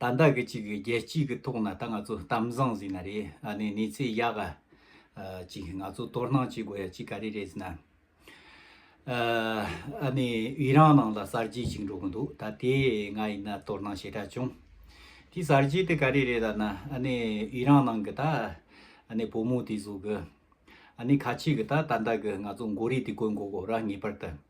ད་ལྟ་གི་ཅིག་གི་རྒྱལ་སྤྱིའི་གི་ཐོག་ན་ད་ང་ཚོ་གཏམ་བཟང་ཟིན་ན་རེད་ཨ་ནི་གནས་ཚེ་ཡག་ཨ། ཅིག་ང་ཚོ་དོར་སྣང་བྱེད་དགོས་ཡ་ཅིག་ག་རེ་རེད་ཟིན་ན། ཨ་ནི་དབྱི་རང་ནང་ལ་གསར་བརྗེ་ཅིག་འགྲོ་གི་འདུག་ད་དེ་ང་ཡིན་ན་དོར་སྣང་ཞེ་དྲག་བྱུང། དེ་གསར་བརྗེ་དེ་ག་རེ་རེད་ཨ་ན་ཨ་ནི་དབྱི་རང་ནང་གི་ད་ཨ་ནི་བུ་མོ་དེ་གཟུགས་གི་ཨ་ནི་ཁ་ཆེ་གི་ད་ད་ལྟ་གི་ང་ཚོ་མགོ་རིལ་དེ་བཀོལ་འགོ་གོ་ར་ངེས་པར་དུ།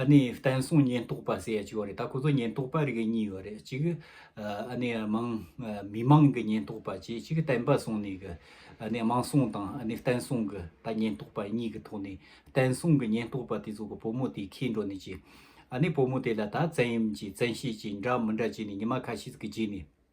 ཨ་ནི་བསྟན་སྲུང་ཉེན་རྟོག་པ་ཟེར་ཡ་ཅིག་ཡོད་རེད་ད་ཁོ་ཚོ་ཉེན་རྟོག་པ་རིགས་གཉིས་ཡོད་རེད་ཅིག་ཨ་ནི་མང་མི་མང་གི་ཉེན་རྟོག་པ་བཅས་ཅིག་བསྟན་པ་སྲུང་ནས་གི་ཨ་ནི་དམངས་སྲུང་དང་ཨ་ནི་བསྟན་སྲུང་གི་ད་ཉེན་རྟོག་པ་གཉིས་གི་ཐོག་ནས་བསྟན་སྲུང་གི་ཉེན་རྟོག་པ་དེ་ཚོ་གི་བུ་མོ་དེ་ཁྱེད་འགྲོ་ནས་ཅིག་ཨ་ནི་བུ་མོ་དེ་ལ་ད་བཙན་གཡེམ་གྱིས་བཙན་ཤེད་ཀྱིས་འདྲ་མི་འདྲ་བྱས་ནས་ཉི་མ་ཁ་ཤས་ཀྱི་རྗེས་ནས།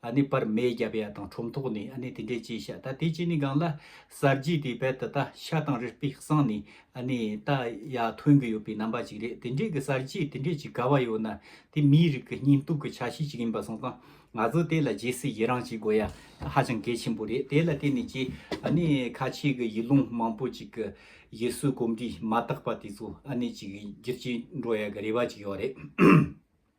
ཨ་ནི་པར་མེ་བརྒྱ་པའི་ཡ་དང་ཁྲོམ་ཐོག་ནས་ཨ་ནི་དེ་འདྲའི་ཅི་བྱ་ད་དེ་ཅི་ནི་གང་ལ། གསར་བརྗེའི་དེའི་བལ་ད་ད་ཤ་དང་རི་སྤི་གསང་ནས་ཨ་ནི་ད་ཡ་ཐོན་གི་ཡོད་པའི་རྣམ་པ་ཅིག་རེད་དེ་འདྲའི་གི་གསར་བརྗེའི་དེ་འདྲའི་ཅིག་ག་བ་ཡོད་ན་དེ་མིའི་རིགས་གི་སྙིང་སྟོབས་གི་ཆ་ཤས་ཅིག་ཡིན་པ་སོང་ཙང་ང་ཚོ་དེ་ལ་རྗེས་སུ་ཡི་རང་བྱེད་དགོས་ཡ་ཧ་ཅང་གལ་ཆེན་པོ་རེད་དེ་ལ་བརྟེན་ནས་ཀྱི་ཨ་ནི་ཁ་ཆེའི་གི་ཡུལ་ལུང་མང་པོ་ཅིག་གི་ཡུལ་སྲོལ་གོམས་འདྲིས་མ་དག་པ་དེ་ཚོ་ཨ་ནི་ཅིག་བསྒྱུར་བྱེད་འགྲོ་ཡ་གི་རེ་བ་ཅིག་ཡོད་རེད།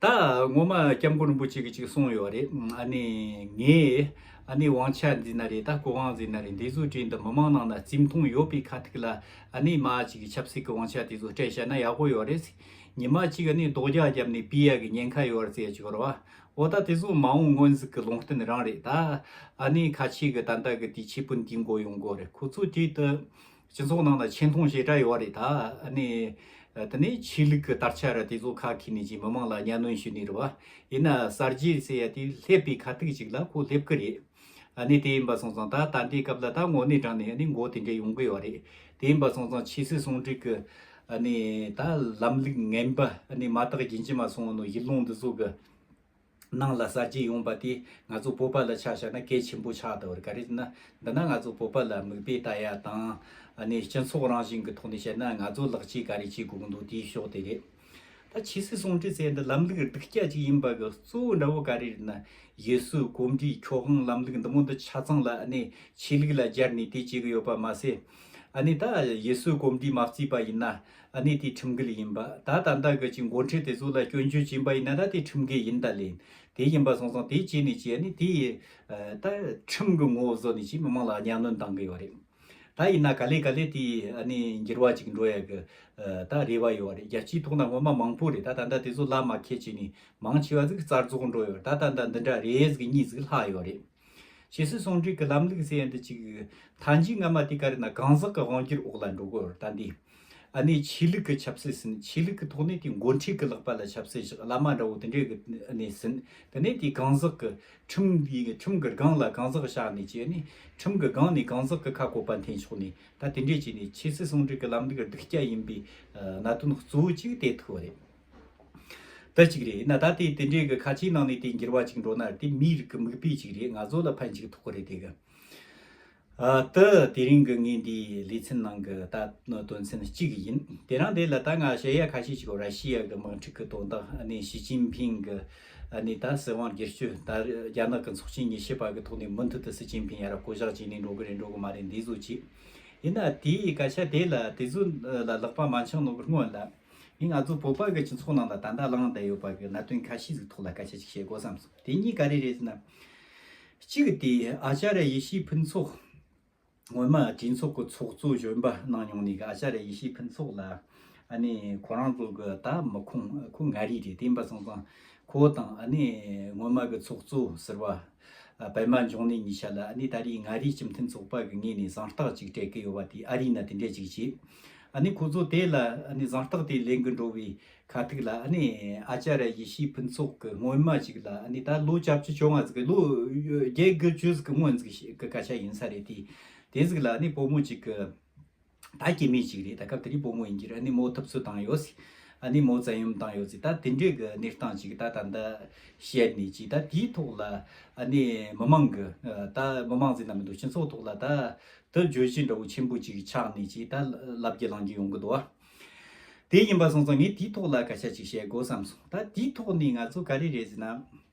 ད་ངོ་མ་སྐྱབས་མགོན་རིན་པོ་ཆེ་གི་ཅིག་གསུངས་ཡོད་རེད་ཨ་ནི་ངས་ཨ་ནི་དབང་ཆ་འདི་ན་རེད་ད་གོ་གང་ཟེར་ན་རེད་འདི་ཚོ་དྲིན་དུ་མི་མང་ནང་ན་རྩིས་མཐོང་ཡོད་པའི་ཁ་ཐུག་ལ་ཨ་ནི་མ་ཅིག་གི་ཆབ་སྲིད་ཀི་དབང་ཆ་དེ་ཚོ་སྤྲད་ཤ་ན་ཡག་པོ་ཡོད་རེད་ཉི་མ་ཅིག་ཨ་ནི་རྡོག་རྒྱག་རྒྱབ་ནི་སྤི་ཡ་གི་ཉེན་ཁ་ཡོད་རྩེ་ཅིག་རོ་འོ་ད་དེ་ཚོ་མ་འོང་སྔོན་རྩིས་ཀི་ལུང་བསྟན་རང་རེད་ད་ཨ་ནི་ཁ་ཆེ་གི་ད་ད་གི་དེ་ཆེ་སྤུན་དེ་མགོ་ཡོང་དགོ་རེད་ཁོ་ཚོ་དུས་དུ་སྤྱི་ཚོགས་ནང་ལ་ཆེ་མཐོང་ཞེ་དྲག་ཡོད་བ་རེད་ད། ནི། དེ་ནི་ཆོས་ལུགས་ཀྱི་དར་ཆ་རེད་དེ་ཚོ་ཁག་ཁྱིས་ནས་ཀྱིས་མི་མང་ལ་གཉའ་གནོན་ཞུས་ནི་རེད་བ། ཡིན་ན་གསར་བརྗེ་ཟེར་ཡ་དེ་སླེབས་པའི་ཁ་ཐུག་ཅིག་ལ་ཁོ་སླེབས་ཀི་རེད། ནི་དེ་ཡིན་པ་སོང་ཙང་ད་ད་ལྟའི་སྐབས་ལ་ད་ངོ་ནས་དྲང་ནས་ནི་མགོ་དེ་འདྲ་ཡོང་གི་ཡོད་བ་རེད། དེ་ཡིན་པ་སོང་ཙང་ཕྱི་སྲིད་ཟུང་འབྲེལ་གྱི། ནི་ད་ལམ་ལུགས་ངན་པ་ནི་མ་དག་རྒྱུན་ཅི་མ་སོང་ནོ་གཞི་ལུང་འདི་ཚོ་གི། ནང་ལ་གསར་བརྗེ་ཡོང་པ་དེས་ང་ཚོ་བོད་པ་ལ་ཆ་བཞག་ན་གལ་ཆེན་པོ་ཆགས་འདུག་ག་རེད་ན། འདི་ན་ང་ཚོ་བོད་པ་ལ་མིག་དཔེ་ལྟ་ཡ་དང། ནས་སྤྱི་ཚོགས་རང་བཞིན་གི་ཐོག་ནས་བཤད་ན་ང་ཚོ་ལག་གཅིག་ག་རེ་བྱེད་དགོས་གི་འདུག་དེའི་ཕྱོགས་དེ་རེད། ད་ཕྱི་སྲིད་ཟུང་འབྲེལ་ཟེར་འདི་ལམ་ལུགས་སྡིག་སྐྱག་ཅིག་ཡིན་པ་གི་གཙོ་བོ་འདྲ་བོ་ག་རེ་རེད་ན། ཡུལ་སྲོལ་གོམས་འདྲིས་ཁྱོ་ཧང་ལམ་ལུགས་འདི་མོ་འདི་ཆ་ཚང་ལ་ནས་ཆོས་ལུགས་ལ་སྦྱར་ནས་དེ་བྱེད་གི་ཡོད་པ་མ་ཟད། ནས་ད་ཡུལ་སྲོལ་གོམས་འདྲིས་མ་བརྩིས་པ་ཡིན་ན། ཨ་ནི་དེ་ཁྲིམས་འགལ་ཡིན་པ་ད་ད་ད་གི་ཅིག་མགོ་འཁྲིད་དེ་ཚོ་ལ་སྐྱོན་བརྗོད་བྱིན་པ་ཡིན་ན་ད་དེ་ཁྲིམས་འགལ་ཡིན་ད་ལེན་དེ་ཡིན་པ་སོང་སོང་དེ་ཅིག་ནི་ཅིག་ཨ་ནི་དེ་ད་ཁྲིམས་གི་ངོ་བཟོ་ནི་ཅིག་མི་མང་ལ་གཉའ་གནོན་གཏང་གི་ཡོད་རེད་ད་ཡིན་ན་ག་ལེ་ག་ལེ་དེ་ཨ་ནི་འགྱུར་བ་ཅིག་འགྲོ་ཡག་གི་ད་རེ་བ་ཡོད་རེད་རྒྱལ་སྤྱིའི་ཐོག་ན་སྔོན་མ་མང་པོ་རེད་ད་ད་ད་དེ་ཚོ་ལ་མ་ཁད་ཅིག་ནི་མང་ཆེ་བ་ཟིག་རྩར་རྫོགས་འགྲོ་ཡོད་རེད་ད་ད་ད་འདི་འདྲ་རེད་ཟིག་གཉིས་ཟིག་ལྷག་ཡོད་རེད། ཇི་སྲིད་ཟུང་འབྲེལ་གྱི་ལམ་ལུགས་ཟེར་ཡ་འདི་གཅིག་ཡོད་ད་འཇིག་སྔ་མ་དེ་ག་རེ་ན་གང་ཟག་གི་དབང་བསྒྱུར་འོག་ལ་འགྲོ་དགོས་པར་ད་འདི་ཨ་ནེ་ཆོས་ལུགས་ཀྱི་ཆབ་སྲིད་ཟིན་ཆོས་ལུགས་ཀྱི་ཐོག་ནས་དེ་མགོ་འཁྲིད་ཀྱི་ལག་པ་ལ་ཆབ་སྲིད་བཞག་བླ་མ་འདྲ་བོ་དེ་འདྲའི་གི་ཨ་ནེ་ཟིན་དེ་ནས་དེ་གང་ཟག་གི་ཁྲིམས་འདི་ཁྲིམས་གི་སྒང་ལ་གང་ཟག་བཞག་ནས་བྱས་ནས་ཁྲིམས་གི་སྒང་ནས་གང་ཟག་གི་ཁ་བསྐོ་པ་འཐེན་ཆོག་ནས་ད་དེ་འདྲས་བྱས་ནས་ཇི་སྲིད་ཟུང་འབྲེལ་གྱི་ལམ་ལུགས་སྡུག་སྐྱ་ཡིན་པའི་གནད་དོན་གཙོ་བོ་གཅིག་དེ་ཐུག་བ་རེད། དེ་གཅིག་རེད་ན་ད་ལྟའི་དེ་འདྲའི་གི་ཁ་ཆེའི་ནང་ནས་དེ་འགྱུར་བ་ཅིག་འགྲོ་ན་དེ་མིའི་རིགས་ཀི་མིག་དཔེ་ཅིག་རེད་ང་ཚོ་ལ་ཕན་ཅིག་ཐོག་གི་རེད་དེ་གི། ཨ་ཏི་དེ་རིང་གི་ངའི་འདིའི་ལེ་ཚན་ནང་གི་ད་དོན་ཚན་གཅིག་ཡིན་དེ་རང་དེ་ལ་ད་ང་ཤེས་ཡ་ཁ་ཤས་ཅིག་ར་ཤི་ཡ་གི་དམག་འཁྲུག་གི་དོན་དང་ཨ་ནི་ཞི་ཅིན་ཕིན་གི་ཨ་ནི་ད་སྲིད་དབང་སྒེར་གཅོད་ད་རྒྱ་ནག་གི་ཚོགས་ཆེན་ཉི་ཤེ་པ་གི་ཐོག་ནས་མུ་མཐུད་དུ་སྲིད་ཅིན་ཕིན་ཡ་རབས་བསྐོ་བཞག་བྱས་ནས་འགྲོ་གི་རེད་འགྲོ་གི་མ་རེད་འདི་ཟོ་ཅིག་ཡིན་ན་དེའི་སྐད་ཆ་དེ་ལ་དེ་ཚོ་ལ་ལག་པ་མ་འཆང་ནོ་གི་སྔོན་ལ། ངས་ང་ཚོ་བོད་པ་ཀྱི་སྤྱི་ཚོགས་ནང་ལ་ད་ལྟ་བསླངས་བསྡད་ཡོད་པ་གི་གནད་དོན་ཁ་ཤས་ཀྱི་ཐོག་ལ་སྐད་ཆ་ཅིག་བཤད་དགོས་བསམ་སོང། དེ་གཉིས་ག་རེ་རེད་ཟེར་ན། གཅིག་དེ་ཨ་ཅཱ་ར་ཡེ་ཤེས་ཕུན་ཚོགས་སྔོན་མ་དྲིན་ཚོགས་ཀྱི་ཚོགས་གཙོ་གཞོན་པ་གནང་མྱོང་ནས་གི་ཨ་ཅཱ་ར་ཡེ་ཤེས་ཕུན་ཚོགས་ལ་ཨ་ནི་ཁོ་རང་ཚོ་གི་ད་མི་ཁོངས་ཁོ་མངའ་རིས་རེད་དེ་ཡིན་པ་སོང་ཙང་ཁོ་དང་ཨ་ནི་སྔོན་མ་གི་ཚོགས་གཙོ་ཟེར་བ་པད་མ་འབྱུང་གནས་གཉིས་བྱ་ལ་ཨ་ནི་ད་རེས་མངའ་རིས་སྤྱི་མཐུན་ཚོགས་པ་གི་ངོས་ནས་གཟེངས་རྟགས་གཅིག་སྤྲད་ཀི་ཡོད་པ་དེ་ཨ་རིས་ན་དེ་འདྲས་ཅིག་བྱས་ཨ་ནི་ཁོ་ཚོ་དེ་ལ་ཨ་ནི་གཟེངས་རྟགས་དེ་ལེན་གི་འགྲོ་བའི་ཁ་ཐུག་ལ་ཨ་ནི་ཨ་ཅ་ར་ཡེ་ཤེས་ཕུན་ཚོགས་གི་སྔོན་མ་ཅིག་ལ་ཨ་ནི་ད་ལོ་བཅའ་བཅུ་བཅོ་ལྔ་ཟིག་གི་ལོ་བརྒྱད་དགུ་བཅུ་ཟིག་གི་སྔོན་ཟིག་གི་སྐད་ཆ་ཡིན་ས་རེད་དེ་དེ་ཟིག་ལ་ཨ་ནི་བུ་མོ་ཅིག་གི། ད་སྐྱེ་མེད་ཅིག་རེད་ད་སྐབས་དེ་རིང་སྤོ་མོ་ཡིན་གྱི་ར་ནི་མོ་ཐུབ་ཚོད་དང་ཡོད་སི་ཨ་ནི་མོ་བཙན་ཡོམ་དང་ཡོད་སི་ད་དེ་འདྲའི་གི་གནས་སྟངས་ཅིག་ད་ད་འདི་བཤད་ནི་ཅིག་ད་དེའི་ཐོག་ལ་ཨ་ནི་མི་མང་གི་ད་མི་མང་ཟེར་ན་མི་འདུག་སྤྱི་ཚོགས་ཐོག་ལ་ད་དུ་བརྗོད་གཞི་འདྲ་བོ་ཆེན་པོ་ཅིག་ཆགས་ནི་ཅིག་ད་ལབ་ཀྱི་ལང་ཀྱི་ཡོང་གི་འདུག་ཨ། དེ་ཡིན་པ་སོང་ཙང་ངས་དེའི་ཐོག་ལ་སྐད་ཆ་ཅིག་བཤད་དགོས་བསམ་སོང་ད་དེའི་ཐོག་ནི་ང་ཚོ་ག་རེ་རེད་ཟེར་ན།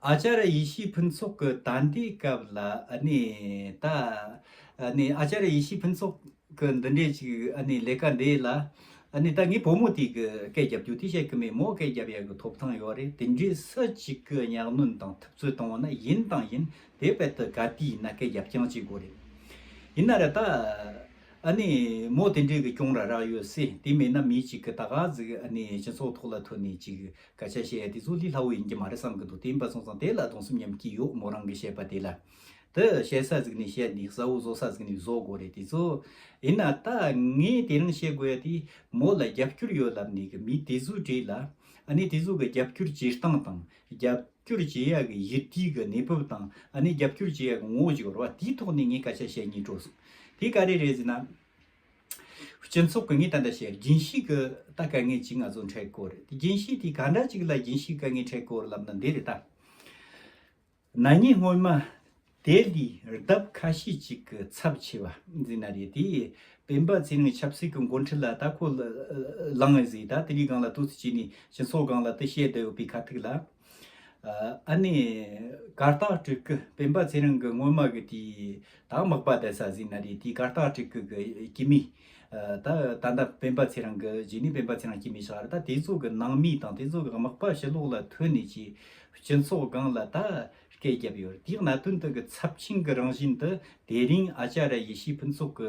ཨཅཱརྱ་ཡེ་ཤེས་ཕུན་ཚོགས་ཀྱི་ད་ལྟའི་སྐབས་ལ་གནས་ད། ཨཅཱརྱ་ཡེ་ཤེས་ཕུན་ཚོགས་ཀྱི་འདི་འདྲའི་ཅིག་ལས་ཀ་འདི་ལ། ད་ངའི་བུ་མོ་དེ་གི་སྐད་བརྒྱབ་རྒྱུ་དེ་བཤད་གི་མེད་མོ་སྐད་བརྒྱབ་ཡག་གི་ཐོབ་ཐང་ཡོད་རེད་དེ་འདྲའི་སུ་ཅིག་གི་གཉའ་གནོན་དང་ཐུབ་ཚོད་བཏང་བ་ན་ཡིན་དང་ཡིན་དེ་བས་དུ་ག་དུས་ཡིན་ན་སྐད་བརྒྱབ་རྐྱང་བྱེད་དགོས་རེད། ཡིན་ན་རེད་ད། མོ་དེ་འདྲའི་གི་གྱོང་ར་རག་ཡོད་སྲིད་དེ་མེད་ན་མི་ཅིག་གི་ད་ག་ཟིག་སྤྱི་ཚོགས་ཐོག་ལ་ཐོན་ནས་ཅིག་ཀ་བྱ་བྱེད་ཡ་དེ་ཚོ་ལི་ལྷ་བོ་ཡིན་གྱི་མ་རེད་བསམ་གྱི་འདུག་དེ་ཡིན་པ་སོང་ཙང་དེ་ལ་གདོང་སེམས་ཉམས་ཀྱི་ཡོག་མོ་རང་གི་བཤད་པ་དེ་ལ་དེ་བཤད་ས་ཟིག་ནས་བཤད་འདི་གཟའ་བོ་བཟོ་ས་ཟིག་ནས་བཟོ་དགོ་རེད་དེ་ཚོ་ཡིན་ན་ད་ངས་དེ་རིང་བཤད་དགོ་ཡ་དེ་མོ་ལ་རྒྱབ་སྐྱོར་ཡོད་ལབ་ནས་གི་མི་དེ་ཚོའི་གྲས་ལ་ཨ་ནེ་དེ་ཚོ་གི་རྒྱབ་སྐྱོར་བྱེད་སྟངས་དང་རྒྱབ་སྐྱོར་བྱེད་ཡ་གི་གཞི་རྟིའི་གི་གནས་བབ་དང་ཨ་ནེ་རྒྱབ་སྐྱོར་བྱེད་ཡ་གི་ངོ་བོ་ཅིག་རོ་བ་དེའི་ཐོག་ནས་ངས་ཀ་བྱ་བྱེད་ངེས་སྤྲོ་སོང་དེ་ག་རེ་རེད་ཟེར་ན། སྤྱི་ཚོགས་གང་ངེས་ད་ལྟ་ཤེས་རྒྱན་ཞིག་གི་ད་ག་ངེས་ཅིག་ང་ཚོ་འཕྲད་དཀོན་རེད་དེ་རྒྱན་ཞིག་དེ་ག་འདྲ་ཅིག་ལ་རྒྱན་ཞིག་ག་ངེས་འཕྲད་དཀོན་རེད་ལབ་ན་འདི་རེད་ད། ན་ཉིན་སྔོན་མ་དེ་ལི་རྡབ་ཁ་ཤས་ཅིག་གི་ཚབ་ཆེ་བ་འཛིན་ན་རེད་དེ། སྤེན་པ་ཚེ་རིང་ཆབ་སྲིད་ཀྱི་མགོ་འཁྲིད་ལ་ད་ཁོ་ལངས་ཨེ་ཟིན་ད་དེ་རིགས་སྒང་ལ་ལྟོས་ཚོད་བྱས་ནས་སྤྱི་ཚོགས་སྒང་ལ་དེ་བཤད་བསྡད་ཡོད་པའི་ཁ་ཐུག་ལ། ཨཱ་ནི། གར་སྟག་སྤྲུལ་སྐུ་སྤེན་པ་ཚེ་རིང་གི་སྔོན་མ་གི་དེའི་དྭགས་དམག་པ་དེ་ས་ཟིན་ན་རེད་དེའི་གར་སྟག་སྤྲུལ་སྐུ་གི་སྐྱེས་མི། ད་ད་ལྟ་སྤེན་པ་ཚེ་རིང་གི་རྗེས་ནས་སྤེན་པ་ཚེ་རིང་སྐྱེས་མི་ཞིག་ཨ་ར་ད་དེ་ཚོ་གི་ནང་མི་དང་དེ་ཚོ་གི་དམག་པ་ཞི་ལོག་ལ་ཐོན་ནས་ཀྱི་སྤྱི་ཚོགས་སྒང་ལ་ད་སྐད་བརྒྱབ་ཡོད་རེད་དེའི་གནད་དོན་དུ་གི་ཚབས་ཆེན་གི་རང་བཞིན་དུ་དེ་རིང་ཨ་ཅཱ་ར་ཡེ་ཤེས་ཕུན་ཚོགས་གི་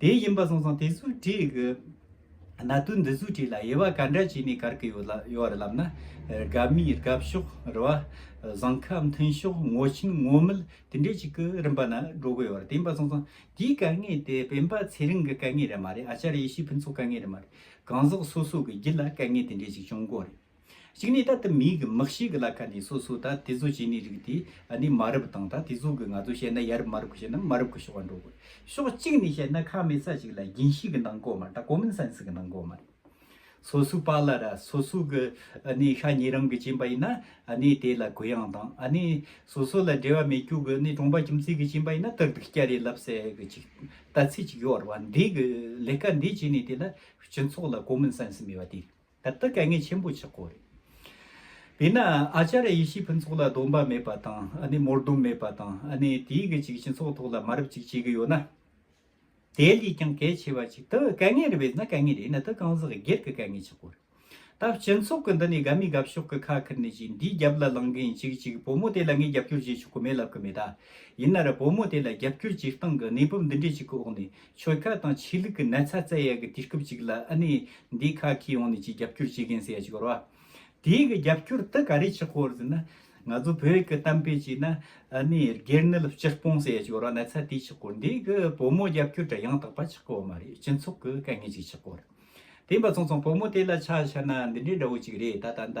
དེ་ཡིན་པ་སོང་སོང་དེ་སུ་བྲིས་གི། ན་དུ་འདི་སུ་བྲིས་ལ་དབྱེ་བ་ག་འདྲ་བྱས་ནས་གར་གི་ཡོད་ར་ལབ་ན། རྒ་མི་རྒབ་ཤོག་རི་བ། བཟང་ཁ་མཐུན་ཤོག་ངོ་ཆེན་ངོ་མིལ་དེ་འདྲས་ཅིག་གི་རིམ་པ་ན་འགྲོ་གི་ཡོད་ར་དེ་ཡིན་པ་སོང་སོང་དེའི་ག་ངེས་དེ་བེམ་པ་ཚེ་རིང་གི་ག་ངེས་ར་མ་རེད་ཨ་ཅར་ཡེ་ཤེས་ཕུན་ཚོགས་ག་ངེས་ར་མ་རེད་གང་ཟག་སོ་སོ་གི་རྒྱུད་ལ་ག་ངེས་དེ་འདྲས་ཅིག་བྱུང་དགོས་རེད། གཅིག་ནས་ད་དུ་མིའི་གི་མིག་ཤེས་གི་ལ་ཁ་ནས་སོ་སོ་ད་དེ་ཚོ་བྱེད་ནི་རིགས་དེ་ནི་མ་རབས་དང་ད་དེ་ཚོ་གི་ང་ཚོ་བཤད་ན་ཡ་རབས་མ་རབས་གི་བཤད་ན་མ་རབས་གི་ཤོག་བ་འགྲོ་དགོས་ཤོག་གཅིག་ནས་བཤད་ན་ཁ་མེད་ས་ཅིག་ལ་རྒྱན་ཤེས་གི་ནང་གོ་མ་ད common sense གི་ནང་གོ་མ་རེད། སོ་སོའི་པ་ལ་ར་སོ་སོ་གི་ནི་ཤ་ཉེ་རང་གི་བྱིན་པ་ཡིན་ན་ནི་དེ་ལ་གུ་ཡངས་དང་ནི་སོ་སོ་ལ་འབྲེལ་བ་མེད་རྒྱུ་གི་ནི་གྲོང་པ་ཁྱིམ་མཚེས་གི་བྱིན་པ་ཡིན་ན་ཏག་ཏག་སྐྱ་རེངས་ལབ་ཟེ་གི་ཅིག་ལྟ་ཚིག་ཅིག་ཡོད་རེད་བ་འདི་གི་ལས་ཀ་འདི་བྱེད་ནི་དེ་ལ་སྤྱི་ཚོགས་ལ common sense མེད་བ་དེ་རེད། ད་ལྟ་དཀའ་ངལ་ཆེན་པོ་ཆགས་སྐོར་རེད། དེས་ན་ཨཱ་ཅཱ་ར་ཡེ་ཤེས་ཕུན་ཚོགས་ལ་སྡོམ་པ་མེད་པ་དང་ཨ་ནི་མོར་སྡོམ་མེད་པ་དང་ཨ་ནི་དེའི་གི་ཅིག་སྤྱི་ཚོགས་ཐོག་ལ་མ་རབས་ཅིག་བྱེད་གི་ཡོད་ན། དེ་ལས་ཀྱང་གལ་ཆེ་བ་ཅིག་ད་དཀའ་ངལ་རེད་བས་ན་དཀའ་ངལ་རེད་ན་ད་གང་ཟག་སྒེར་གི་དཀའ་ངལ་ཆགས་སྐོར་རེད། ད་སྤྱི་ཚོགས་ཀི་འདི་ནས་དགའ་མི་དགའ་ཕྱོགས་ཀི་ཁ་ཁུར་ནས་ཅིག་འདིའི་རྒྱབ་ལ་ལངས་གི་ཡིན་ཅིག་ཅིག་བུ་མོ་དེ་ལ་ངས་རྒྱབ་སྐྱོར་བྱེད་ཆོག་གི་མེད་ལབ་གི་མེད་ད། ཡིན་ན་ར་བུ་མོ་དེ་ལ་རྒྱབ་སྐྱོར་བྱེད་སྟངས་གི་གནས་བབ་འདི་འདྲས་ཅིག་གི་འོག་ནས་ཆོལ་ཁ་དང་ཆོས་ལུགས་ཀྱི་ན་ཚ་བཙལ་ཡག་གི་དུས་སྐབས་ཅིག་ལ་ཨ་ནེ་འདི་ཁ་ཁྱི་ཡོང་ནས་ཅིག་རྒྱབ་སྐྱོར་བྱེད་མཁན་ཟེར་ཡ་ཅིག་ཡོད་རོ། དེ་གི་རྒྱབ་སྐྱོར་དེ་ག་རེ་ཆགས་ཁོ་ཟེར་ན། ང་ཚོ་བོད་ཀྱི་གཏམ་དཔེ་ཅིག་ན་ཨ་ནེ་སྒེར་ནད་ལ་སྤྱིར་སྤོང་ཟེར་ཡ་ཅིག་ཡོད་རོ་ན་ཚ་དེ་ཆགས་ཁོ་འདི་གི་བུ་མོ་རྒྱབ་སྐྱོར་དྲ་ཡང་དག་པ་ཆགས་ཁོ་མ་རེད་སྤྱི་ཚོགས་ཀྱི་དཀའ་ངལ་ཅིག་ཆགས་ཁོ་རེད། དེ་འབའ་ཚང་ཚང་བུ་མོ་དེ་ལ་ཆ་བཞག་ན་འདི་འདྲའི་འདྲ་བོ་ཅིག་རེད་ད་ད་ད།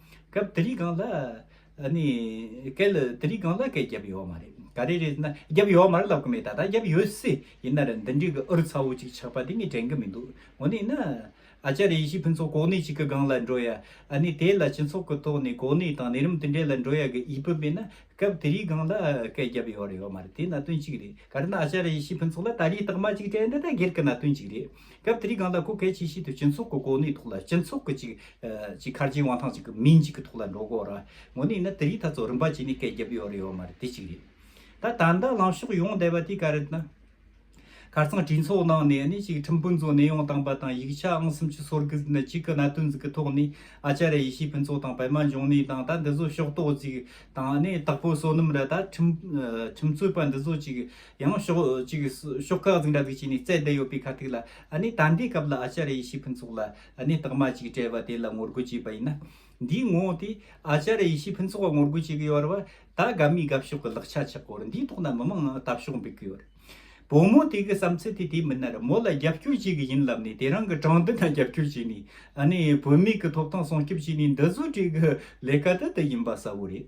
སྐབས་དེ་རིང་གང་ལ། ནི། སྐལ། དེ་རིང་གང་ལ་སྐལ་བརྒྱབ་ཡོད་མ་རེད། ག་རེ་རེད་ཟེར་ན། བརྒྱབ་ཡོད་མར་ལབ་གི་མེད་ད་ལྟ་བརྒྱབ་ཡོད་སྲིད། ཡིན་ནར་འདི་འདྲའི་གི་ཨུ་རུ་ཚ་བོ་ཅིག་ཆགས་པ་དེ་ངས་དྲན་གི་མི་འདུག་ངོ་ནས་ན། ཨ་ཅག་རེ་ཞིག་ཕུན་ཚོགས་གོ་གནས་ཅིག་གི་སྒང་ལ་འགྲོ་ཡ། ནི་དེ་ལ་སྤྱི་ཚོགས་ཀི་ཐོག་ནས་གོ་གནས་དང་གནས་རིམ་དེ་འདྲའི་ལ་འགྲོ་ཡ་གི་ཡིད་བུད་མེད་ན། སྐབས་དེ་རིང་གང་ལ་སྐལ་བརྒྱབ་ཡོད་རེད་ཡོད་མ་རེད་དེ་ན་དོན་ཅིག་རེད་ག་རེ་ན་ཨ་ཅག་རེ་ཞིག་ཕུན་ཚོགས་ལ་ད་རེས་རྟགས་མ་ཅིག་དྲན་ད་ད་སྒེར་གི་ན་དོན་ཅིག་རེད། སྐབས་དེར་གངས་དང་ཁུ་གེ་ཆེ་ཤེལ་དུ་སྤྱི་ཚོགས་ཀྱི་གོ་གནས་ཐོག་ལ་སྤྱི་ཚོགས་ཀྱི་གཅིག་གཅིག་ཁར་རྗེས་དབང་ཐང་གཅིག་གི་མིང་གཅིག་གི་ཐོག་ལ་འགྲོ་དགོས་རང་ངོ་ནས་ན་དེ་རིགས་ཐག་ཚོགས་རིམ་པ་བྱས་ནས་སྐད་བརྒྱབ་ཡོད་རེད་ཡོད་མ་རེད་དེ་གཅིག་རེད། ད་ད་ལྟ་ལངས་ཕྱོགས་ཡོང་བསྡད་པ་དེ་ག་རེད་ན། ཁར་ཚང་གྲོས་ཚོགས་ནང་ནས་ནི་གཅིག་ཁྲིམས་དཔོན་ཚོ་གནས་དབྱུང་བཏང་པ་དང་ཡིག་ཆ་ཨང་གསུམ་ཅུ་སོར་གྱི་ནི་གཅིག་གི་གནད་དོན་ཟིག་གི་ཐོག་ནས་ཨ་ཅ་རེ་ཡེ་ཤེས་ཕུན་ཚོགས་དང་བལ་མ་འབྱུང་གནས་དང་ད་འདི་ཚོ་ཕྱོགས་གཏོགས་ཟིག་དང་ནི་དྭགས་པོ་བསོད་ནམས་ར་ད་ཁྲིམས་རྩོད་པ་འདི་ཚོ་གཅིག་ཡང་ཕྱོགས་གཅིག་ཤོག་ཁག་འཛིང་གྲྭ་གཟིགས་བྱས་ནས་བཙལ་བསྡད་ཡོད་པའི་ཁ་ཐུག་ལ་ནི་ད་ལྟའི་སྐབས་ལ་ཨ་ཅཱ་རེ་ཡེ་ཤེས་ཕུན་ཚོགས་ལ་ནི་རྟགས་མ་གཅིག་སྤྲད་པ་དེ་ལ་ངོ་རྒོལ་བྱས་པ་ཡིན་ན། འདིའི་ངོ་བོ་དེ་ཨ་ཅཱ་རེ་ཡེ་ཤེས་ཕུན་ཚོགས་ལ་ངོ་རྒོལ་བྱེད་ཀྱི་ཡོད་རེད་བ། ད་སྒབ་མི་སྒབ་ཕྱོགས་ཀྱི་ལག་ཆ་ཆག་སྐོར་འདིའི་ཐོག་ན་མི་མང་དག་ཕྱོགས་འབེབས་ཀྱི་ཡོད་རེད། བུ་མོ་དེ་གི་བསམ་ཚུལ་དེ་དེ་མིན་ནར་མོ་ལ་རྒྱབ་སྐྱོར་བྱེད་ཀྱི་ཡིན་ལབ་ནས་དེ་རང་གི་དྲང་བདེན་ལ་རྒྱབ་སྐྱོར་བྱས་ནས་ནི་བུད་མེད་ཀྱི་ཐོབ་ཐང་སྲུང་སྐྱོབ་བྱས་ནས་འདི་བཟོ་བྲེལ་གྱི་ལས་ཀ་དེ་དེ་ཡིན་པ་གསལ་བོ་རེད།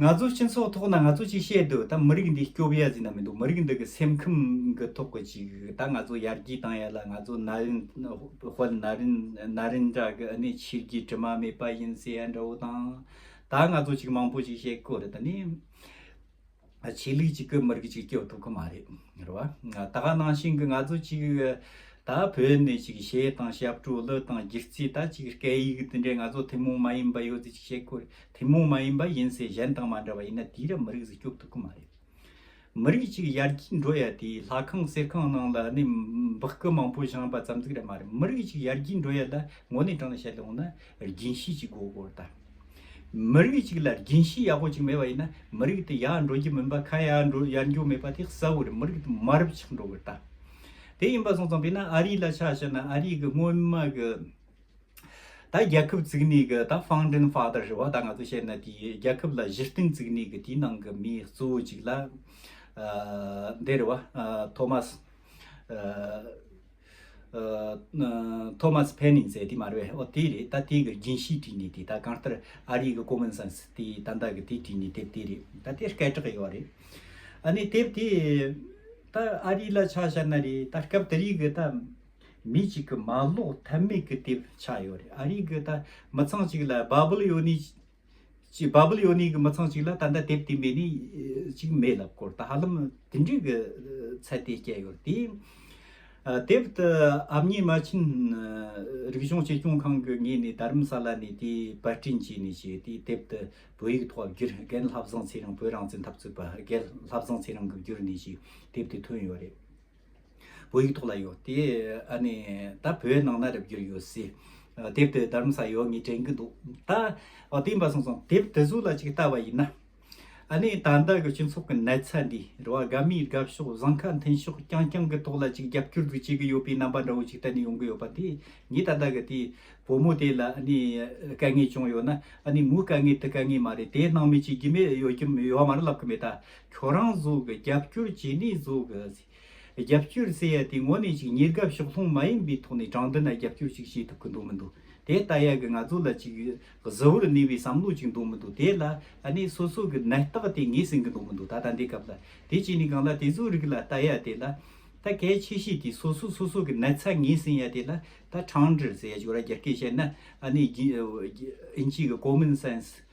ང་ཚོའི་སྤྱི་ཚོགས་ཐོག་ན་ང་ཚོ་གཅིག་བཤད་དུ་ད་མི་རིགས་འདི་སྐྱོ་བས་ཟིན་ན་མི་འདུག་མི་རིགས་འདི་གི་སེམས་ཁམས་གི་ཐོག་གི་ཅིག་ད་ང་ཚོ་ཡར་རྒྱས་བཏང་ཡ་ལ་ང་ཚོ་ན་རིན་ཧོལ་ན་རིན་ན་རིན་འདྲ་གི་ཨ་ནི་ཕྱི་རྒྱལ་དྲི་མ་མེད་པ་ཡིན་ཟེར་ཡ་འདྲ་བོ་དང། ད་ང་ཚོ་ཅིག་མང་པོ་ཅིག་བཤད་དགོས་རེད་ད་ནི། ཆོས་ལུགས་ཅིག་གི་མི་རིགས་ཅིག་སྐྱོ་ཐུབ་གི་མ་རེད་རེད་བ། ད་ག་ནང་བཞིན་གི་ང་ཚོ་ཅིག་ད་བོད་ནས་ཅིག་བྱས་དང་ཞབས་བྲོ་གླུ་དང་སྒྱུ་རྩི་ད་ཅིག་སྐད་ཡིག་འདི་འདྲས་ང་ཚོ་ཐུན་མོང་མ་ཡིན་པ་ཡོད་ཚེ་ཅིག་བཤད་དགོས་རེད། ཐུན་མོང་མ་ཡིན་པ་ཡིན་ཚེ་གཞན་དང་མ་འདྲ་བ་ཡིན་ན་དེའི་རབས་མི་རིགས་སུ་སྐྱོབ་ཐུབ་ཀྱི་མ་རེད། མི་རིགས་གཅིག་ཡར་རྒྱས་འགྲོ་ཡ་དེ་ལྷ་ཁང་གསེར་ཁང་ནང་ལ་ནས་འབག་སྐུ་མང་པོ་བཞེངས་པ་ཙམ་ཙིག་རེད་མ་རེད་མི་རིགས་གཅིག་ཡར་རྒྱས་འགྲོ་ཡ་ལ་ངོ་ནས་དྲང་ལ་བཤད་ལོང་ན་རྒྱན་ཤེས་ཅིག་དགོས་དགོས་ད། མི་རིགས་གཅིག་ལ་རྒྱན་ཤེས་ཡག་པོ་ཅིག་མེད་པ་ཡིན་ན་མི་རིགས་དེ་ཡར་འགྲོ་རྒྱུ་མིན་པ་ཁ་ཡར་འགྲོ་ཡར་འགྱུར་མེད་པ་དེ་གསལ་བོ་རེད་མི་རིགས་དེ་མར་ཆག་འགྲོ་དགོས་ད། དེ་ཡིན་པ་སོང་ཙང་དཔེར་ན་ཨ་རི་ལ་ཆ་བཤད་ན་ཨ་རི་གི་སྔོན་མ་གི་ད་རྒྱལ་ཁབ་བཙུགས་ནས་གི་ད་ཧྥང་ཏན་ཧྥ་དར་ཧྲི་བ་ད་ང་ཚོ་བཤད་ན་དེའི་རྒྱལ་ཁབ་ལ་གཞི་རྟེན་བཙུགས་ནས་གི་དེའི་ནང་གི་མི་གཙོ་བོ་ཅིག་ལ་འདས་རི་བ་ཐོ་མ་སི་ཐོ་མ་སི་ཕེ་ནིན་ཟེར་དེ་མ་རེད་བས་ཨོ་དེ་རེད་ད་དེའི་གི་རྒྱན་ཤིས་བྲིས་ནས་དེ་ད་གང་ལྟར་ཨ་རིའི་གི་ཀོ་མོན་སན་སི་དེའི་ད་ཟླ་གི་དེ་བྲིས་ནས་དེབ་དེ་རེད་ད་དེ་སྐད་གྲགས་ཡོད་བ་རེད་ཨ་ནི་དེབ་དེ་ད་ཨ་རི་ལ་ཆ་བཤད་ན་རེད་ད་སྐབས་དེ་རིགས་གི་ད། མི་གཅིག་གི་མ་ལོག་ཐབས་མེད་ཀི་དེབ་ཆགས་ཡོད་རེད་ཨ་རིག་གི་ད་མི་ཚང་གཅིག་ལ་བ་བུལ་ཡོ་ནི་གཅིག་བ་བུལ་ཡོ་ནི་གི་མི་ཚང་གཅིག་ལ་ད་ལྟ་དེབ་དེ་མེད་ནི་གཅིག་མེད་ལབ་སྐོར་ད་ཧ་ལམ་དེ་འདྲིག་གི་ཚད་དེ་སྐྱེ་ཡོད་དེ། དེབ་དེ་ཨབ་ཉི་མ་ཆིན་རིག་གཞུང་གཅེས་སྐྱོང་ཁང་གི་ངེད་ནི་དར་རིམ་ས་ལ་ནི་དེ་པར་སྐྲིན་བྱས་ནི་བྱས་དེ་དེབ་དེ་བོད་ཡིག་ཐོག་ཨབ་གྱིར་རྒན་ལྷ་བཟང་ཚེ་རིང་བོད་རང་བཙན་འཐབ་རྩོད་པ་རྒན་ལྷ་བཟང་ཚེ་རིང་གི་བསྒྱུར་ནི་ཞིག་དེབ་དེ་ཐོན་ཡོད་རེད། བོད་ཡིག་ཐོག་ལ་ཡོད་དེ། ཨ་ནི། ད་བོད་ནང་ན་རེབ་གྱུར་ཡོད་སྲིད། དེབ་དེ་དར་མ་ས་ཡོད་ངས་དྲན་གྱི་འདུག་ད། ཨོ་དེ་འབའ་སོང་སོང་དེབ་དེ་ཟུར་ལ་ཅིག་བལྟ་བ་ཡིན་ན། ཨ་ནི་ད་ལྟ་གི་སྤྱི་ཚོགས་ཀྱི་ནད་ཚ་འདི་རུ་ཨ་དགའ་མིའི་དགའ་ཕྱོགས་བཟང་ཁ་མཐུན་ཕྱོགས་རྐྱང་རྐྱང་གི་ཐོག་ལ་ཅིག་རྒྱབ་སྐྱོར་དུ་བྱེད་ཀྱི་ཡོད་པའི་རྣམ་པ་འདྲ་བོ་ཅིག་གཏན་ནས་ཡོང་གི་ཡོད་པ་དེ་ངས་ད་ལྟ་གི་དེ་བུ་མོ་དེ་ལ་ཨ་ནི་དཀའ་ངལ་བྱུང་ཡོད་ན་ཨ་ནི་མོའི་དཀའ་ངལ་དེ་དཀའ་ངལ་མ་རེད་དེ་སྣང་མེད་བྱེད་ཀྱི་མེད་ཡོད་ཀྱི་ཡོད་མ་རེད་ལབ་ཀྱི་མེད་ད། ཁྱོད་རང་གཟུགས་རྒྱབ་སྐྱོར་བྱས་ནས་གཟུགས་རྒྱབ་སྐྱོར་ཟེར་ཡ་དེ་ངོ་ནས་ཅིག་ཉེར་དགའ་ཕྱོགས་ལྷུང་མ་ཡིན་པའི་ཐོག་ནས་དྲང་བདེན་ལ་རྒྱབ་སྐྱོར་ཅིག་བྱེད་ཐུབ་གི་འདུག་མི་འདུག་དེ་ལྟ་ཡག་གི་ང་ཚོ་ལ་ཅིག་གཟི་བོར་གནས་པའི་བསམ་བློ་ཅིག་འདུག་མི་འདུག་དེ་ལ་ནི་སོ་སོ་གི་ནད་རྟགས་དེ་ངས་ཟིན་གི་འདུག་མི་འདུག་ད་ལྟ་འདི་སྐབས་ལ་དེ་བྱས་ནས་གང་ལ་དེ་བཟོ་རིགས་ལ་ལྟ་ཡ་དེ་ལ་ད་གལ་ཆེ་ཤོས་དེ་སོ་སོ་སོ་སོ་གི་ནད་ཚ་ངས་ཟིན་ཡ་དེ་ལ་ད་དྲང་བདེར་ཟེར་ཡ་ཅིག་ར་རྒྱ་སྐད་བཤད་ན་ཨ་ནི་ཨིན་ཇིའི་གི Common Sense